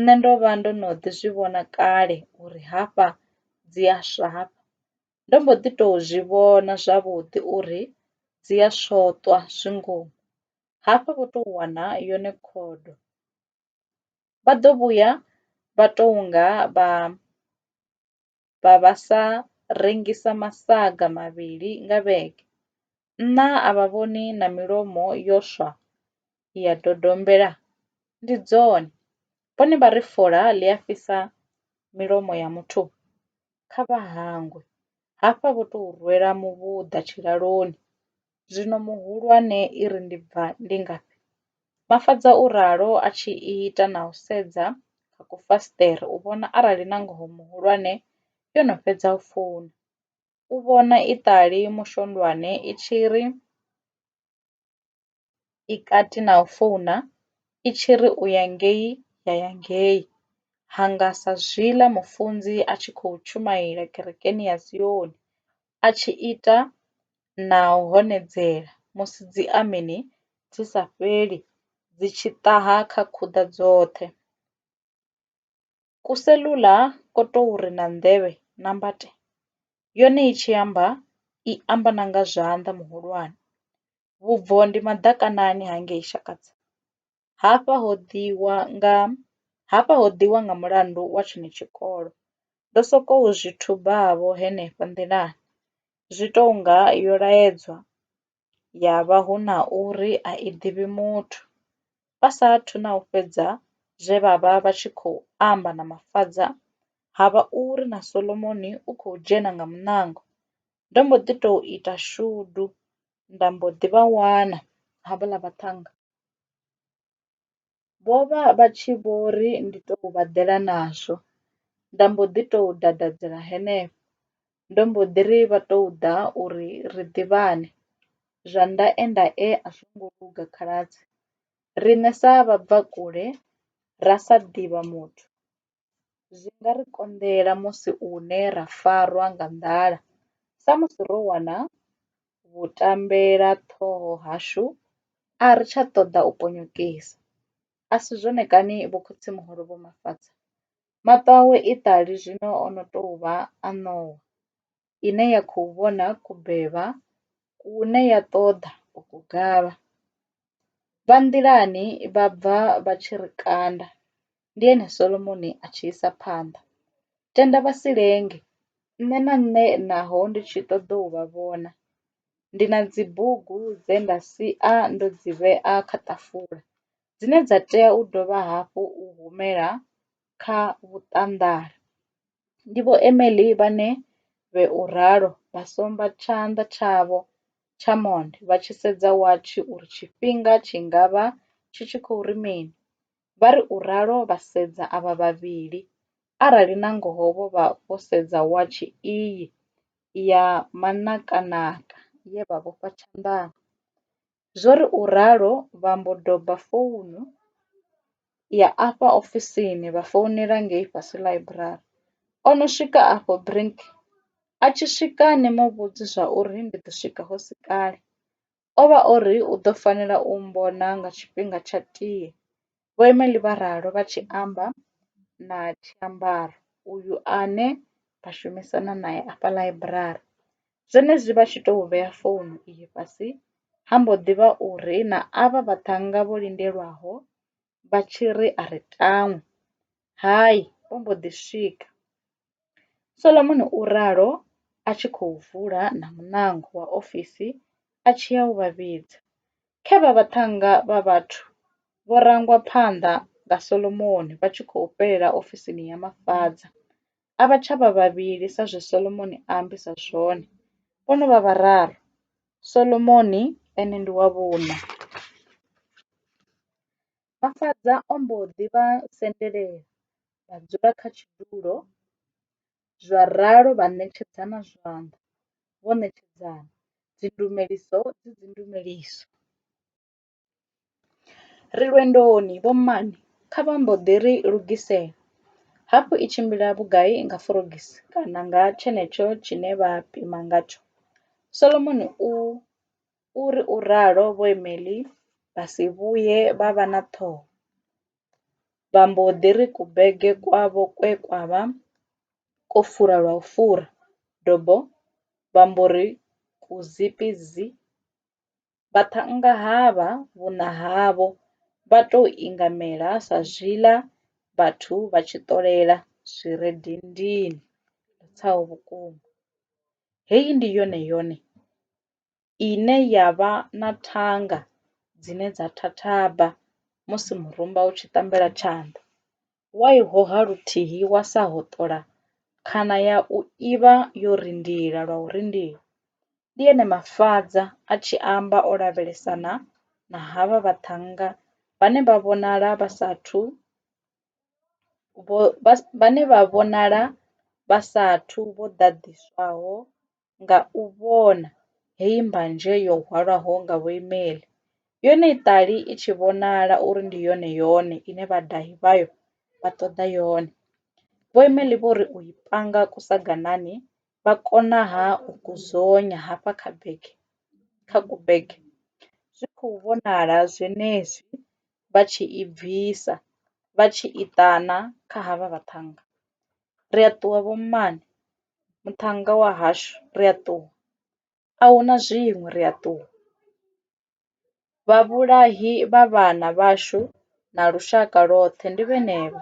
nṋe ndo vha ndo no ḓi zwi vhona kale uri hafha dzi a swa hafha. Ndo mbo ḓi tou zwi vhona zwavhuḓi uri dzi a swoṱwa zwi ngomu hafha vho tou wana yone khodo. Vha ḓo vhuya vha tou nga vha vha vha sa rengisa masaga mavhili nga vhege Nṋa a vha vhoni na milomo yo swa ya dodombela? Ndi dzone vhone vha ri fola ḽi a fhisa milomo ya muthu? Kha vha hangwe hafha vho tou rwela muvhuḓa tshilaloni. Zwino muhulwane i ri ndi bva ndi ngafhi? Mafhaṱa u ralo a tshi ita na u sedza kha kufasiṱere u vhona arali nangoho muhulwane yo no fhedza u founa. u vhona iṱali mushondwane i tshi ri i kati na u founa i tshi ri u ya ngei ya ya ngei ha nga sa zwiḽa mufunzi a tshi khou tshumaela kerekeni ya Sioni a tshi ita na u honedzela musi dzi ameni dzi sa fheli dzi tshi ṱaha kha khuḓa dzoṱhe. Ku cellular ko tou ri na nḓevhe na mbate, yone i tshi amba i amba na nga zwanḓa muhulwane. Vhubvo ndi maḓakanani ha ngei Shakadza, hafha ho ḓiwa nga hafha ho ḓiwa nga mulandu wa tshone tshikolo. Ndo sokou zwi thuba vho henefha nḓilani zwi tou nga yo laedzwa ya vha hu na uri a i ḓivhi muthu. Vha sa athu na u fhedza zwe vha vha vha tshi khou amba na Mafadza, ha vha uri na Solomoni u khou dzhena nga muṋango. Ndo mbo ḓi tou ita shudu nda mbo ḓi vha wana havhaḽa vhaṱhannga. Vho vha vha tshi vho ri ndi tou vha ḓela nazwo, nda mbo ḓi tou dadadzela henefho. Ndo mbo ḓi ri vha tou ḓa uri ri ḓivhane, zwa ndaendae a zwo ngo luga khaladzi. Riṋe sa vhabvakule ra sa ḓivha muthu zwi nga ri konḓela musi hune ra farwa nga nḓala samusi ro wana vhu tambela ṱhoho hashu a ri tsha ṱoḓa u ponyokesa a si zwone kani vho khotsimuhulu vho Mafhaṱha? Maṱo awe iṱali zwino ono tou vha a ṋowa ine ya khou vhona kubeba kune ya ṱoḓa u ku gavha. Vha nḓilani vha bva vha tshi ri kanda, ndi hone Solomoni a tshi isa phanḓa, Tenda vha si lenge, nṋe na nṋe naho ndi tshi ṱoḓa u vha vhona, ndi na dzibugu dze nda sia ndo dzi vhea kha ṱafula, dzine dza tea u dovha hafhu u humela kha vhuṱanḓari. Ndi Vho Emily vhane vhe u ralo vha somba tshanḓa tshavho tsha monde vha tshi sedza watshi uri tshifhinga tshi nga vha tshi tshi khou ri mini. Vha ri u ralo vha sedza avha vhavhili, arali nangoho vho vha vho sedza watshi iyi ya manakanaka ye vha vhofha tshanḓani. Zwo ri u ralo vha mbo doba founu ya afha ofisini vha founela ngei fhasi ḽaiburari. O no swika afho Brink a tshi swika ni mu vhudze zwa uri ndi ḓo swika hu si kale o vha o ri u ḓo fanela u mmbona nga tshifhinga tsha tie. Vho Emily vha ralo vha tshi amba na tshiambaro uyu ane vha shumisana nae afha ḽaiburari. Zwenezwi vha tshi tou vhea founu iyi fhasi, ha mbo ḓi vha uri na avha vhaṱhannga vho lindelwaho vha tshi ri a ri tangwe, Hai, vho mbo ḓi swika. Solomoni u ralo a tshi khou vula na muṋango wa ofisi a tshi ya u vha vhidza. Khe vha vhaṱhannga vha vhathu vho rangwa phanḓa nga Solomoni vha tshi khou fhelela ofisini ya mafhaṱa. A vha tsha vha vhavhili sa zwe Solomoni a ambisa zwone, vho no vha vhararu, Solomoni ene ndi wa vhuṋa. Mafhaṱa o mbo ḓi vha sendelela vha dzula kha tshidulo zwa ralo vha ṋetshedzana zwanḓa vho ṋetshedzana dzi ndumeliso dzi dzi ndumeliso. Ri lwendoni vho mmane kha vha mbo ḓi ri lugisela hafhu i tshimbila vhugai nga forogisi kana nga tshenetsho tshine vha pima ngatsho. Solomoni u U ri u ralo Vho Emelli vha si vhuye vha vha na ṱhoho, vha mbo ḓi ri kubege kwavho kwe kwa vha kwo fura lwa u fura dobo vha mbo ri kuzipi zi! Vhaṱhannga havha vhuṋa havho vha tou ingamela sa zwiḽa vhathu vha tshi ṱolela zwi re dindini. Ndi tsa u vhukuma. Heyi ndi yone yone ine ya vha na thanga dzine dza thathaba musi murumba u tshi tambela tshanḓa, wa i hoha luthihi wa sa hoṱola khana ya u i vha yo rindila lwa u rindila. Ndi ene Mafadza a tshi amba o lavhelesana na havha vhaṱhannga vhane vha vhonala vha sa athu vho vhane vha vhonala vha sa athu vho ḓaḓiswaho nga u vhona hei mbanzhe yo hwalwaho nga vhoimeli, yone i ṱali i tshi vhonala uri ndi yone-yone ine vhadahi vhayo vha ṱoḓa yone. Vhoimeli vho ri u i panga kusaganani vha konaha u ku dzonya hafha kha bege kha kubege zwi khou vhonala zwenezwi vha tshi i bvisa vha tshi i ṱana kha havha vhaṱhannga. ri a ṱuwa vho mmane muṱhannga wa hashu ri a ṱuwa a hu na zwiṅwe ri a ṱuwa. Vhavhulahi vha vhana vhashu na lushaka lwoṱhe ndi vhenevha,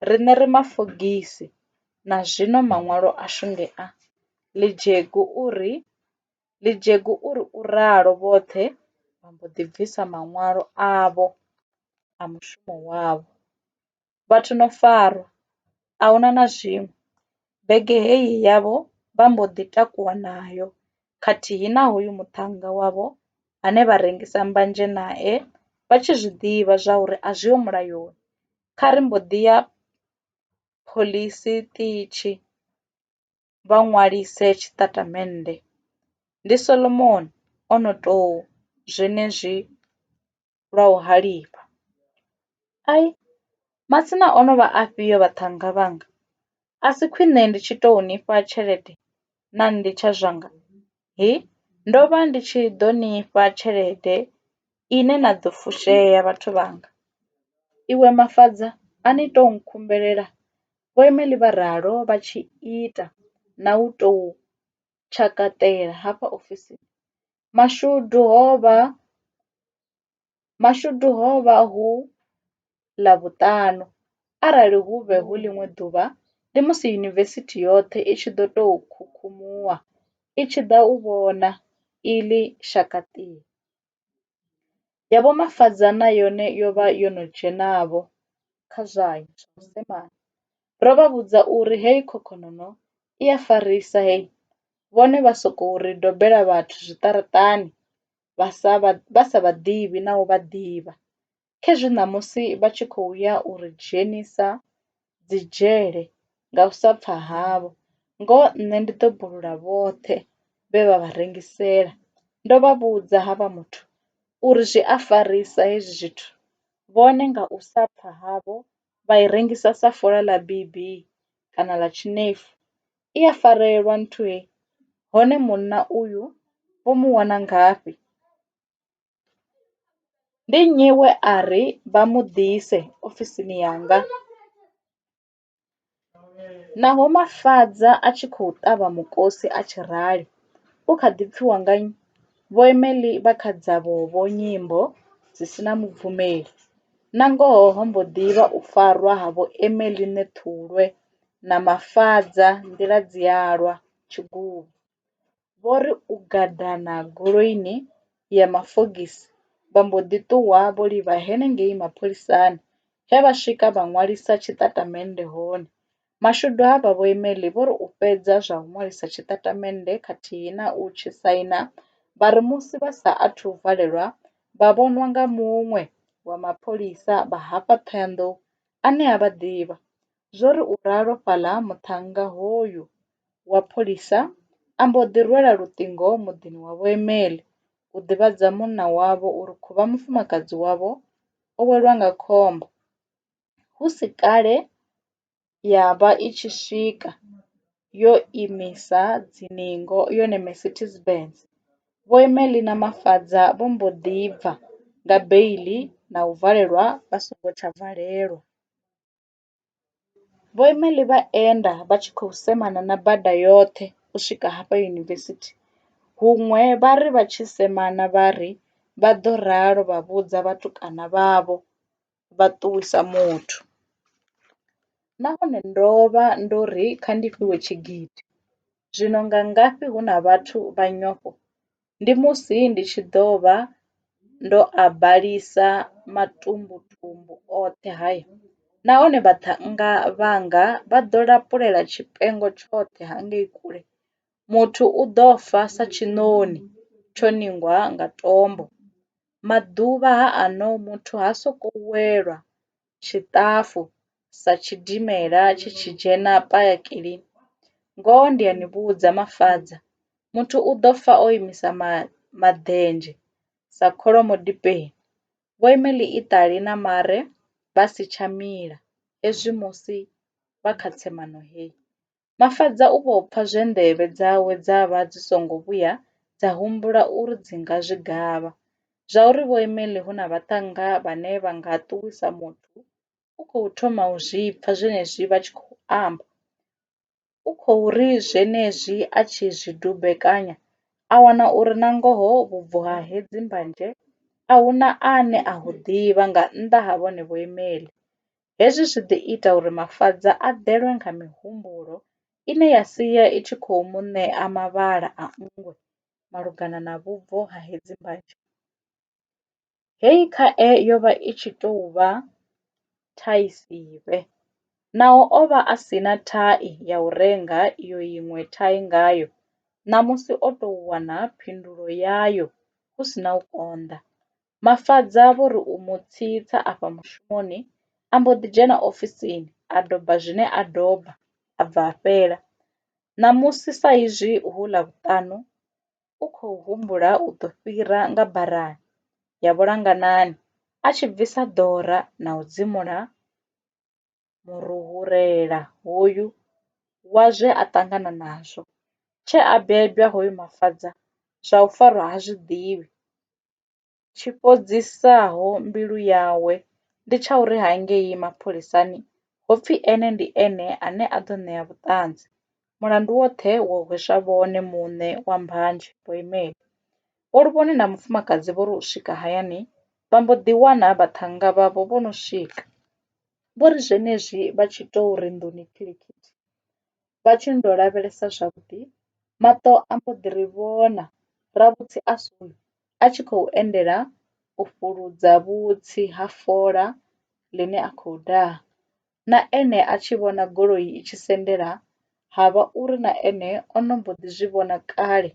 riṋe ri mafogisi na zwino maṅwalo ashu ndi a. Ḽidzhegu u ri Ḽidzhegu u ri u ralo vhoṱhe vha mbo ḓi bvisa maṅwalo avho a mushumo wavho. vhathu no farwa ahuna na zwiṅwe, bege heyi yavho vha mbo ḓi takuwa nayo khathihi na hoyu muṱhannga wavho ane vha rengisa mbanzhe nae vha tshi zwiḓivha zwa uri a zwiho mulayoni. Kha ri mbo ḓi ya phoḽisi ṱitshi. vha ṅwalise tshitatamennde. Ndi Solomoni o no tou zwenezwi lwa u halifha. Ai, masina o no vha afhio vhaṱhannga vhanga? A si khwiṋe ndi tshi tou ni fha tshelede na litsha zwanga? Hi, ndo vha ndi tshi ḓo ni fha tshelede ine na ḓo fushea vhathu vhanga. Iwe Mafhaṱa a ni tou nkhumbelela Vho Emely vha ralo vha tshi ita na u tou tshakaṱela hafha ofisini. Mashudu ho vha Mashudu ho vha hu Ḽavhuṱanu, arali hu vhe hu ḽiṅwe ḓuvha ndi musi yunivesithi yoṱhe i tshi ḓo tou khukhumuwa i tshi ḓa u vhona iḽi shakaṱiri. Ya Vho Mafadza na yone yo vha yo no dzhena-vho kha zwayo zwa vhudzekani. Ro vha vhudza uri heyi khokhonono i a farisa hei, vhone vha sokou ri dobela vhathu zwiṱaraṱani vha sa vha ḓivhi na u vha ḓivha. khezwi ṋamusi vha tshi khou ya u ri dzhenisa dzidzhele nga u sa pfa havho, ngoho nṋe ndi ḓo bulula vhoṱhe vhe vha vha rengisela. Ndo vha vhudza havha muthu uri zwi a farisa hezwi zwithu, vhone nga u sa pfa havho vha i rengisa sa fola ḽa bibi kana ḽa tshinefu. I a farelwa nthu hei, hone munna uyu vho mu wana ngafhi? Ndi nnyi we a ri vha mu ḓise ofisini yanga? Naho Mafhaṱa a tshi khou ṱavha mukosi a tshi rali, u kha ḓi pfiwa nga nnyi? Vho Emily vha kha dzavho-vho nyimbo dzi si na mubvumeli. Nangoho ho mbo ḓi vha u farwa ha Vho Emily Ṋethulwe na Mafhaṱa nḓila dzi a lwa, tshiguvhu. vho ri u gadana goloini ya mafogisi vha mbo ḓi ṱuwa vho livha henengei mapholisani he vha swika vha ṅwalisa tshitatamennde hone. Mashudu avha Vho Emelli vho ri u fhedza zwa u ṅwalisa tshitatamennde khathihi na u tshi saina vha ri musi vha sa athu u valelwa vha vhonwa nga muṅwe wa mapholisa vha hafha Thohoyandou ane a vha ḓivha. Zwo ri u ralo fhaḽa ha muṱhannga hoyu wa pholisa a mbo ḓi rwela luṱingo muḓini wa Vho Emel u ḓivhadza munna wavho uri khuvha mufumakadzi wavho o welwa nga khombo. Hu si kale ya vha i tshi swika yo imisa dziningo yone Mercedes Benz. Vho Emel na Mafadza vho mbo ḓi bva nga beiḽi na u valelwa vha songo tsha valelwa. Vhoimeli vha enda vha tshi khou semana na bada yoṱhe u swika hafha yunivesithi, huṅwe vha ri vha tshi semana vha ri vha ḓo ralo vha vhudza vhatukana vhavho vha ṱuwisa muthu. Nahone ndo vha ndo ri kha ndi fhiwe tshigidi, zwino nga ngafhi hu na vhathu vha nyofho? ndi musi ndi tshi ḓo vha ndo a balisa matumbutumbu oṱhe haya, nahone vhaṱhannga vhanga vha ḓo lapulela tshifhengo tshoṱhe ha ngei kule. Muthu u ḓo fa sa tshiṋoni tsho ningwa nga tombo, maḓuvha ha ano muthu ha sokou welwa tshiṱafu sa tshidimela tshi tshi dzhena payakili, ngoho ndi a ni vhudza, Mafadza, muthu u ḓo fa o imisa maḓenzhe sa kholomo dipeni. Vho ima ḽiṱali na mare vha si tsha mila, hezwi musi vha kha tsemano hei. Mafadza u vho pfa zwe nḓevhe dzawe dza vha dzi songo vhuya dza humbula uri dzi nga zwi gavha. Zwauri Vho Emily hu na vhaṱhannga vhane vha nga ṱuwisa muthu, u khou thoma u zwi pfa zwenezwi vha tshi khou amba. U khou ri zwenezwi a tshi zwi dumbekanya, a wana uri nangoho vhubvo ha hedzi mbanzhe a hu na ane a hu ḓivha nga nnḓa ha vhone Vho Emily. Hezwi zwi ḓo ita uri Mafadza a ḓelwe nga mihumbulo ine ya sia i tshi khou mu ṋea mavhala a nngwe malugana na vhubvo ha hedzi mbanzhe. Hei khae yo vha i tshi tou vha thai sivhe, naho o vha a si na thai ya u renga iyo iṅwe thai ngayo ṋamusi o tou wana phindulo yayo hu si na u konḓa. Mafadza vho ri u mu tsitsa afha mushumoni, a mbo ḓi dzhena ofisini a doba zwine a doba a bva a fhela. Ṋamusi sa izwi hu Ḽavhuṱanu, u khou humbula u ḓo fhira nga barani ya vhulanganani a tshi bvisa ḓora na u dzimula muruhurela hoyu wa zwe a ṱangana nazwo. Tshee a bebwa hoyu Mafadza zwa u farwa ha zwi ḓivhi. tshi fhodzisaho mbilu yawe ndi tsha uri hangei mapholisani ho pfi ene ndi ene ane a ḓo ṋea vhuṱanzi, mulandu woṱhe wo hweswa vhone muṋe wa Mbanzhe Vho Imeli. Vho Luvhone na mufumakadzi vho ri u swika hayani vha mbo ḓi wana vhaṱhannga vhavho vho no swika. Vho ri zwenezwi vha tshi tou ri nḓuni khilikhitshi vha tshi ndo lavhelesa zwavhuḓi, maṱo a mbo ḓi ri vhona Ravhutsi a suli a tshi khou endela u fhuludza vhutsi ha fola ḽine a khou daha. Na ene a tshi vhona goloi i tshi sendela ha vha uri na ene o no mbo ḓi zwi vhona kale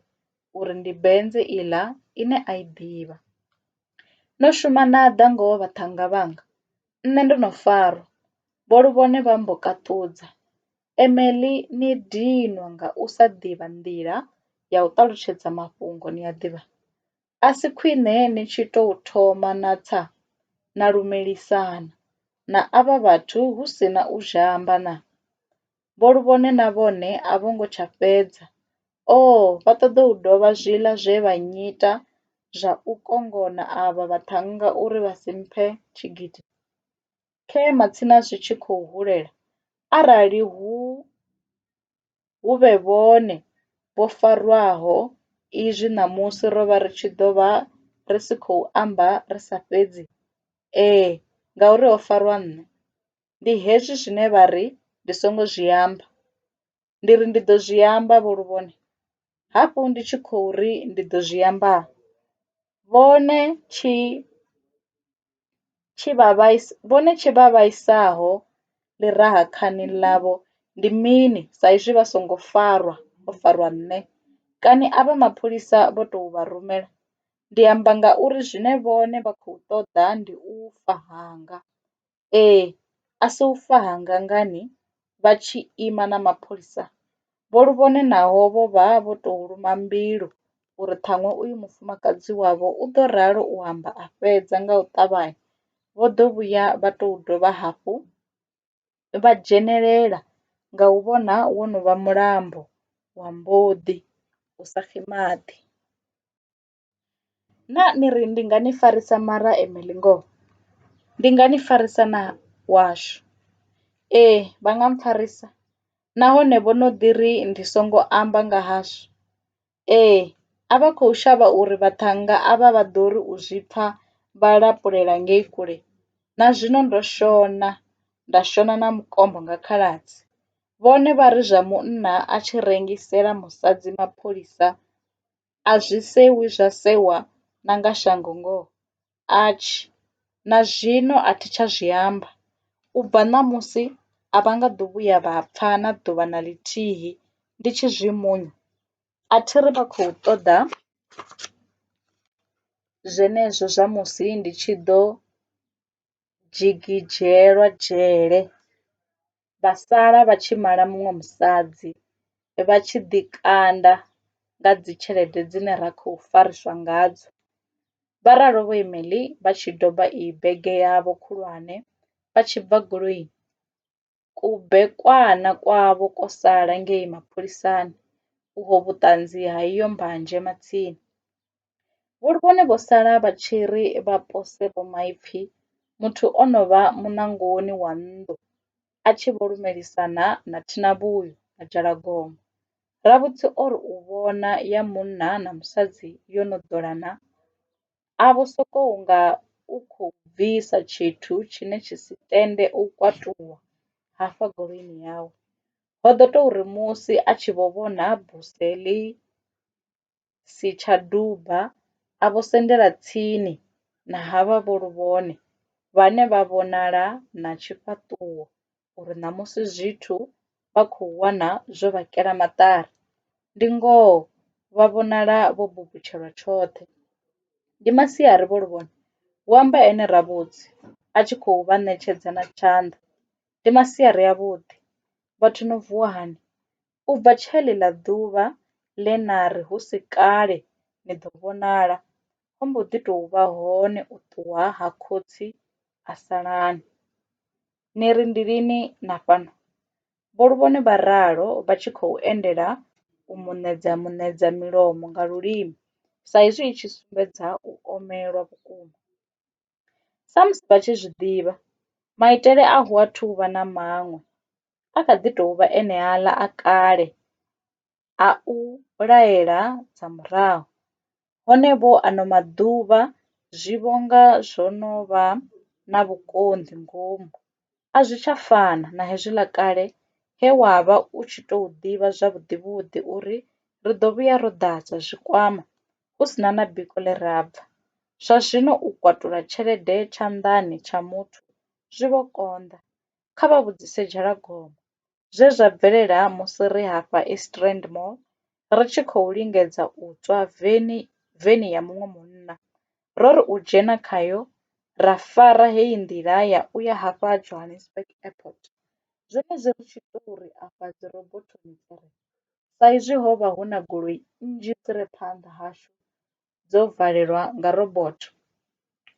uri ndi benze iḽa ine a i ḓivha. No shuma na ḓa ngoho vhaṱhannga vhanga, nṋe ndo no farwa, vho Luvhone vha mbo kaṱudza. Emily ni dinwa nga u sa ḓivha nḓila ya u ṱalutshedza mafhungo ni a ḓivha. A si khwine ni tshi tou thoma na tsa na lumelisana na avha vhathu hu si na u zhamba na? Vho Luvhone na vhone a vho ngo tsha fhedza. Oo, vha ṱoḓa u dovha zwiḽa zwe vha nnyita zwa u kongona avha vhaṱhannga uri vha si mphe tshigidi. khe matsina zwi tshi khou hulela, arali hu hu vhe vhone vho farwaho izwi ṋamusi ro vha ri tshi ḓo vha ri si khou amba ri sa fhedzi, ee, ngauri ho farwa nṋe. Ndi hezwi zwine vha ri ndi songo zwi amba. ndi ri ndi ḓo zwi amba vho luvhone, hafhu ndi tshi khou ri ndi ḓo zwi amba vhone tshi tshi vha vhaisa vhone tshi vha vhaisaho ḽi raha khani ḽavho ndi mini sa izwi vha songo farwa ho farwa nṋe kani a vha mapholisa vho tou vha rumela ndi amba ngauri zwine vhone vha khou ṱoḓa ndi u fa hanga. Ee, a si u fa ha ngangani vha tshi ima na mapholisa vho lu vhone naho vho vha vho to luma mbilu uri ṱhaṅwe uyu mufumakadzi wavho u ḓo ralo u amba a fhedza nga u ṱavhanya vho ḓo vhuya vha to dovha hafhu vha dzhenelela nga u vhona wo no vha mulambo wa mboḓi u sa xi maḓi. Naa ni ri ndi nga ni farisa mara e meḽi ngoho? Ndi nga ni farisa na washu. Ee, vha nga mpfarisa nahone vho no ḓi ri ndi songo amba nga hashu. Ee, a vha khou shavha uri vhaṱhannga avha vha ḓo ri u zwi pfa vha lapulela ngei kule. Na zwino ndo shona, nda shona na mukombo nga khaladzi. Vhone vha ri zwa munna a tshi rengisela musadzi mapholisa a zwi sewi zwa sewa na nga shango ngoho atshi na zwino a thi tsha zwi amba u bva ṋamusi a vha nga ḓo vhuya vha pfa na ḓuvha na ḽithihi ndi tshi zwi munya a thi ri vha khou ṱoḓa zwenezwo zwa musi ndi tshi ḓo dzhigidzhelwa dzhele, vha sala vha tshi mala muṅwe musadzi, vha tshi ḓi kanda nga dzi tshelede dzine ra khou fariswa ngadzo. Vha ralo Vho Emely vha tshi doba iyi bege yavho khulwane vha tshi bva goloini. Kubekwana kwavho kwo sala ngei mapholisani uho vhuṱanzi ha iyo mbanzhe matsini. Vhone vho sala vha tshi ri vha pose Vho Maipfi muthu o no vha muṋangoni wa nnḓu a tshi vho lumelisana na Thinavhuyo na Dzhalagoma. Ravhutsi o ri u vhona ya munna na musadzi yo no ḓolana a vho sokou nga u khou bvisa tshithu tshine tshi si tende u kwatuwa hafha goloini yawe. Ho ḓo tou ri musi a tshi vho vhona buse ḽi si tsha duba a vho sendela tsini na havha vho Luvhone vhane vha vhonala na tshifhaṱuwo uri ṋamusi zwithu vha khou wana zwo vha kela maṱari. Ndi ngoho vha vhonala vho butshelwa tshoṱhe. Ndi masiari Vho Luvhone? hu amba ene Ravhudzi a tshi khou vha ṋetshedza na tshanḓa. Ndi masiari avhuḓi. Vhathu no vuwa hani? U bva tsha ḽeḽa ḓuvha ḽe na ri hu si kale ni ḓo vhonala, ho mbo ḓi tou vha hone u ṱuwa ha khotsi Asalani. Ni ri ndi lini na fhano? Vho Luvhone vha ralo vha tshi khou endela u mu ṋedza muṋedza milomo nga lulimi sa izwi i tshi sumbedza u omelwa vhukuma. Samusi vha tshi zwi ḓivha, maitele a hu athu u vha na maṅwe, a kha ḓi tou vha eneaḽa a kale. a u laela dza murahu, hone vho ano maḓuvha zwi vho nga zwo no vha na vhukonḓi ngomu. A zwi tsha fana na hezwiḽa kale he wa vha u tshi tou ḓivha zwavhuḓivhuḓi uri ri ḓo vhuya ro ḓadza zwikwama hu si na na biko ḽe ra bva. Zwa zwino u kwatula tshelede tshanḓani tsha muthu zwi vho konḓa, kha vha vhudzise Dzhalagoma. zwe zwa bvelela musi ri hafha East Rand Mall ri tshi khou lingedza u tswa veni veni ya muṅwe munna. Ro ri u dzhena khayo ra fara heyi nḓila ya u ya hafha Johannesburg Airport. Zwenezwi ri tshi tou ri afha dzirobothoni dzi re, saizwi ho vha hu na goloi nnzhi dzi re phanḓa hashu, dzo valelwa nga robotho.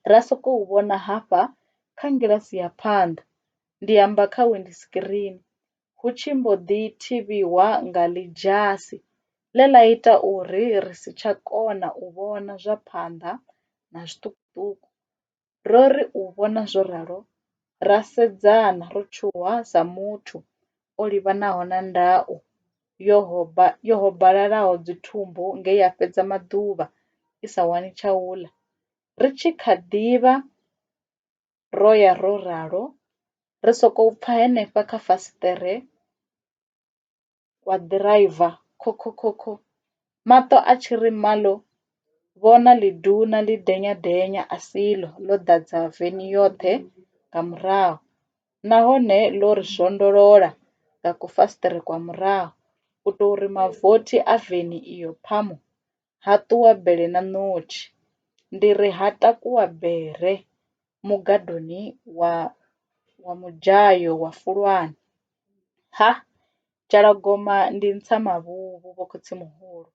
Ra sokou vhona hafha kha ngilasi ya phanḓa, ndi amba kha winḓisikirini, hu tshi mbo ḓi thivhiwa nga ḽidzhasi ḽe ḽa ita uri ri si tsha kona u vhona zwa phanḓa na zwiṱukuṱuku. Ro ri u vhona zwo ralo, ra sedzana ro tshuwa sa muthu o livhanaho na ndau yo hobalalaho dzithumbu nge ya fhedza maḓuvha i sa wani tsha u ḽa. Ri tshi kha ḓi vha ro ya ro ralo, ri sokou pfa henefha kha fasiṱere wa ḓiraiva khokhokhokho, maṱo a tshi ri malo vhona ḽiduna ḽi denyadenya a si ḽo, ḽo ḓadza veni yoṱhe nga murahu nahone ḽo ri zwondolola nga kufasiṱere kwa murahu u tou ri mavothi a veni iyo phamu! ha ṱuwa bele na ṋotshi, ndi ri ha takuwa bere mugadoni wa wa mudzhayo wa fulwane, ha Tshalagoma ndi ntsa mavhuvhu vho khotsimuhulu.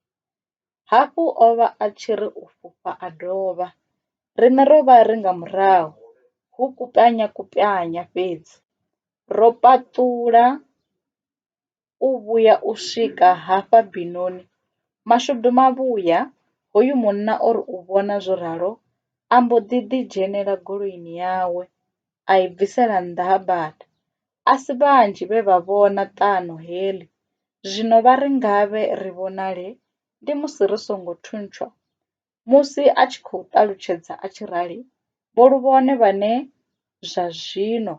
Hafhu o vha a tshi ri u fhufha a dovha, riṋe ro vha ri nga murahu hu kupwanyakwapwanya fhedzi ro paṱula. u vhuya u swika hafha binoni. Mashudu mavhuya, hoyu munna o ri u vhona zwo ralo a mbo ḓi ḓi dzhenela goloini yawe a i bvisela nnḓa ha bada. A si vhanzhi vhe vha vhona ṱano heḽi, zwino vha ri ngavhe ri vhonale ndi musi ri songo thuntshwa. Musi a tshi khou ṱalutshedza a tshi rali, Vho Luvhone vhane zwa zwino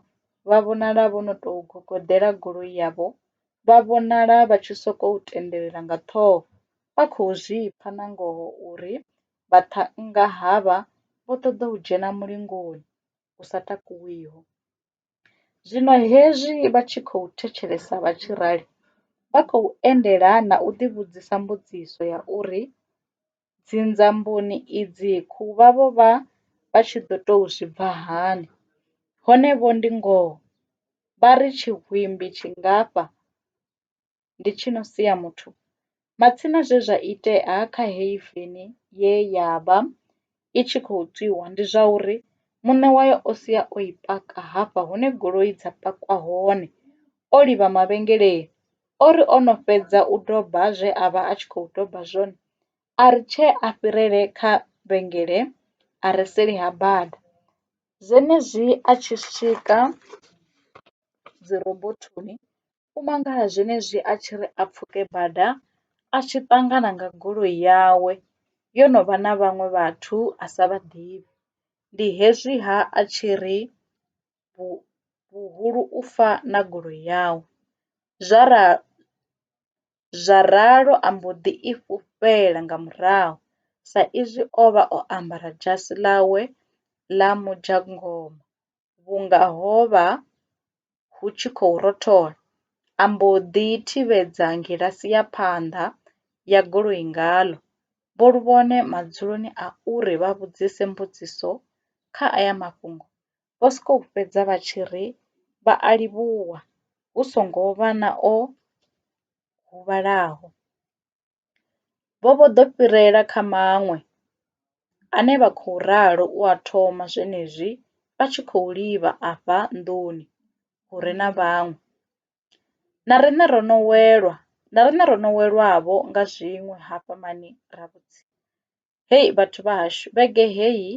vha vhonala vho no tou gogoḓela goloi yavho vha vhonala vha tshi sokou tendelela nga ṱhoho vha khou zwi pfa nangoho uri vhaṱhannga havha vho ṱoḓa u dzhena mulingoni u sa takuwiho. Zwino hezwi vha tshi khou thetshelesa vha tshi rali, vha khou endelana na u ḓivhudzisa mbudziso ya uri, Dzinzamboni idzi khou vha vho vha vha tshi ḓo tou zwi bva hani? Hone vho ndi ngoho? Vha ri tshihwimbi tshingafha? ndi tshi no sia muthu, matsina zwe zwa itea kha heyi veni ye ya vha i tshi khou tswiwa ndi zwa uri muṋe wayo o sia o i paka hafha hune goloi dza pakwa hone, o livha mavhengeleni. O ri o no fhedza u doba zwe a vha a tshi khou doba zwone a ri tshee a fhirele kha vhengele a re seli ha bada. Zwenezwi a tshi swika dzi robothoni U mangala zwenezwi a tshi ri a pfuke bada a tshi ṱangana nga goloi yawe yo no vha na vhaṅwe vhathu a sa vha ḓivhi. Ndi hezwi ha a tshi ri vhuhulu u fa na goloi yawe. Zwa ra zwa ralo a mbo ḓi i fhufhela nga murahu sa izwi o vha o ambara dzhasi ḽawe ḽa mudzhangoma. vhunga ho vha hu tshi khou rothola, a mbo ḓi thivhedza ngilasi ya phanḓa ya goloi ngaḽo. Vho Luvhone madzuloni a uri vha vhudzise mbudziso kha aya mafhungo, vho sokou fhedza vha tshi ri vha a livhuwa hu songo vha na o huvhalaho. Vho vho ḓo fhirela kha maṅwe, ane vha khou ralo u a thoma zwenezwi vha tshi khou livha afha nḓuni hu re na vhaṅwe. Na riṋe ro no welwa, na riṋe ro no welwavho nga zwiṅwe hafha mani ra vhudzisa. Hei vhathu vha hashu vhege heyi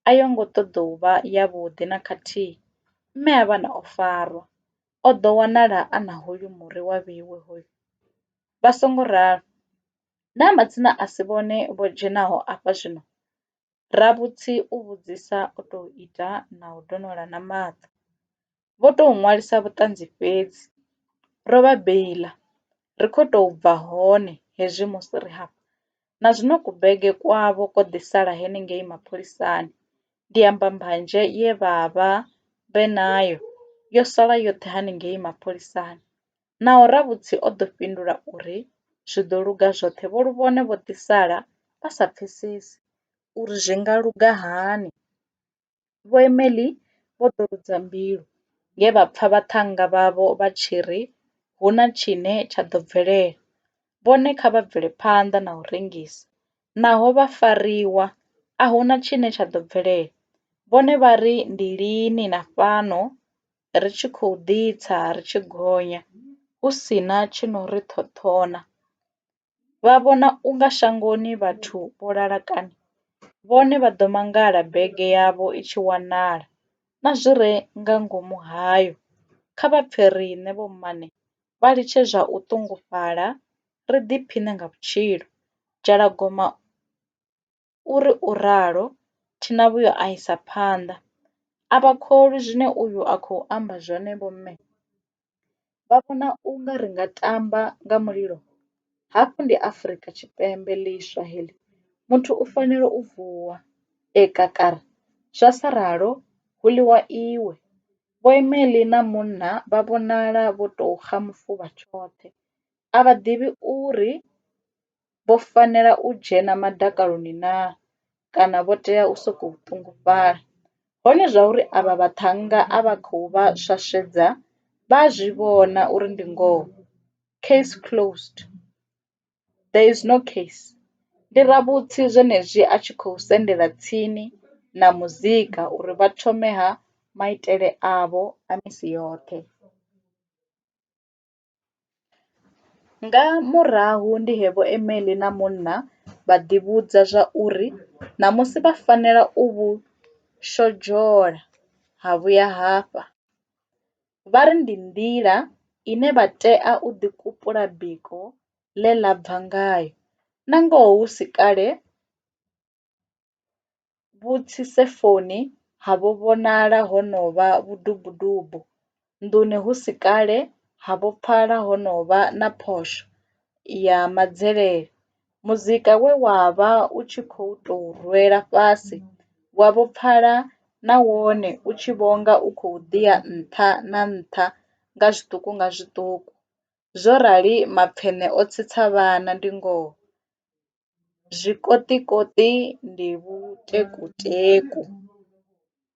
a yo ngo ṱoḓou vha ya vhuḓi na khathihi, mme Havhana o farwa, o ḓo wanala a na hoyu muri wa vheiwe hoyu. Vha songo ralo, naa matsina a si vhone vho dzhenaho afha zwino? Ravhutsi u vhudzisa o tou ita na u donola na maṱo. vho tou ṅwalisa vhuṱanzi fhedzi. Ro vha beiḽa, ri khou tou bva hone hezwi musi ri hafha. Na zwino kubege kwavho kwo ḓi sala henengei mapholisani. Ndi amba mbanzhe ye vha vha vhe nayo yo sala yoṱhe hanengei mapholisani. Naho Ravhutsi o ḓo fhindula uri zwi ḓo luga zwoṱhe vho Luvhone vho ḓi sala vha sa pfesesi uri zwi nga luga hani. Vho Emely vho ḓo rudza mbilu nge vha pfa vhaṱhannga vhavho vha tshi ri hu na tshine tsha ḓo bvelela. Vhone kha vha bvele phanḓa na u rengisa. Naho vha fariwa, a hu na tshine tsha ḓo bvelela. Vhone vha ri ndi lini na fhano ri tshi khou ḓitsa ri tshi gonya hu si na tshi no ri ṱhoṱhona? vha vhona u nga shangoni vhathu vho lala kani? Vhone vha ḓo mangala bege yavho i tshi wanala, na zwi re nga ngomu hayo. Kha vha pfe riṋe vhommane vha litshe zwa u ṱungufhala, ri ḓiphiṋe nga vhutshilo. Dzhalagoma u. U ri u ralo, Thinavhuyo a isa phanḓa, A vha kholwi zwine uyu a khou amba zwone vho mme. Vha vhona u nga ri nga tamba nga mulilo? Hafhu ndi Afrika Tshipembe ḽiswa heḽi, muthu u fanela u vuwa e kakara, zwa sa ralo hu ḽiwa iwe. Vho Emely na munna vha vhonala vho tou xa mufuvha tshoṱhe, a vha ḓivhi uri vho fanela u dzhena madakaloni naa kana vho tea u sokou ṱungufhala? Hone zwauri avha vhaṱhannga a vha khou vha swaswedza vha a zwi vhona uri ndi ngoho. Case closed. There is no case. Ndi ravhutsi zwenezwi a tshi khou sendela tsini na muzika uri vha thome ha maitele avho a misi yoṱhe. Nga murahu ndi he Vho Emily na munna vha ḓivhudza zwa uri ṋamusi vha fanela u vhu shodzhola ha vhuya hafha. Vha ri ndi nḓila ine vha tea u ḓikupula biko ḽe ḽa bva ngayo, nangoho hu si kale. Vhutshisefoni havho vhonala ho no vha vhudubudubu, nḓuni hu si kale havho pfala ho no vha na phosho ya madzelele. Muzika we wa vha u tshi khou tou rwela fhasi wavho pfala na wone u tshi vho nga u khou ḓi ya nṱha na nṱha nga zwiṱuku nga zwiṱuku. Zwo rali mapfeṋe o tsitsa vhana, ndi ngoho. Zwikoṱikoṱi ndi vhuteku teku.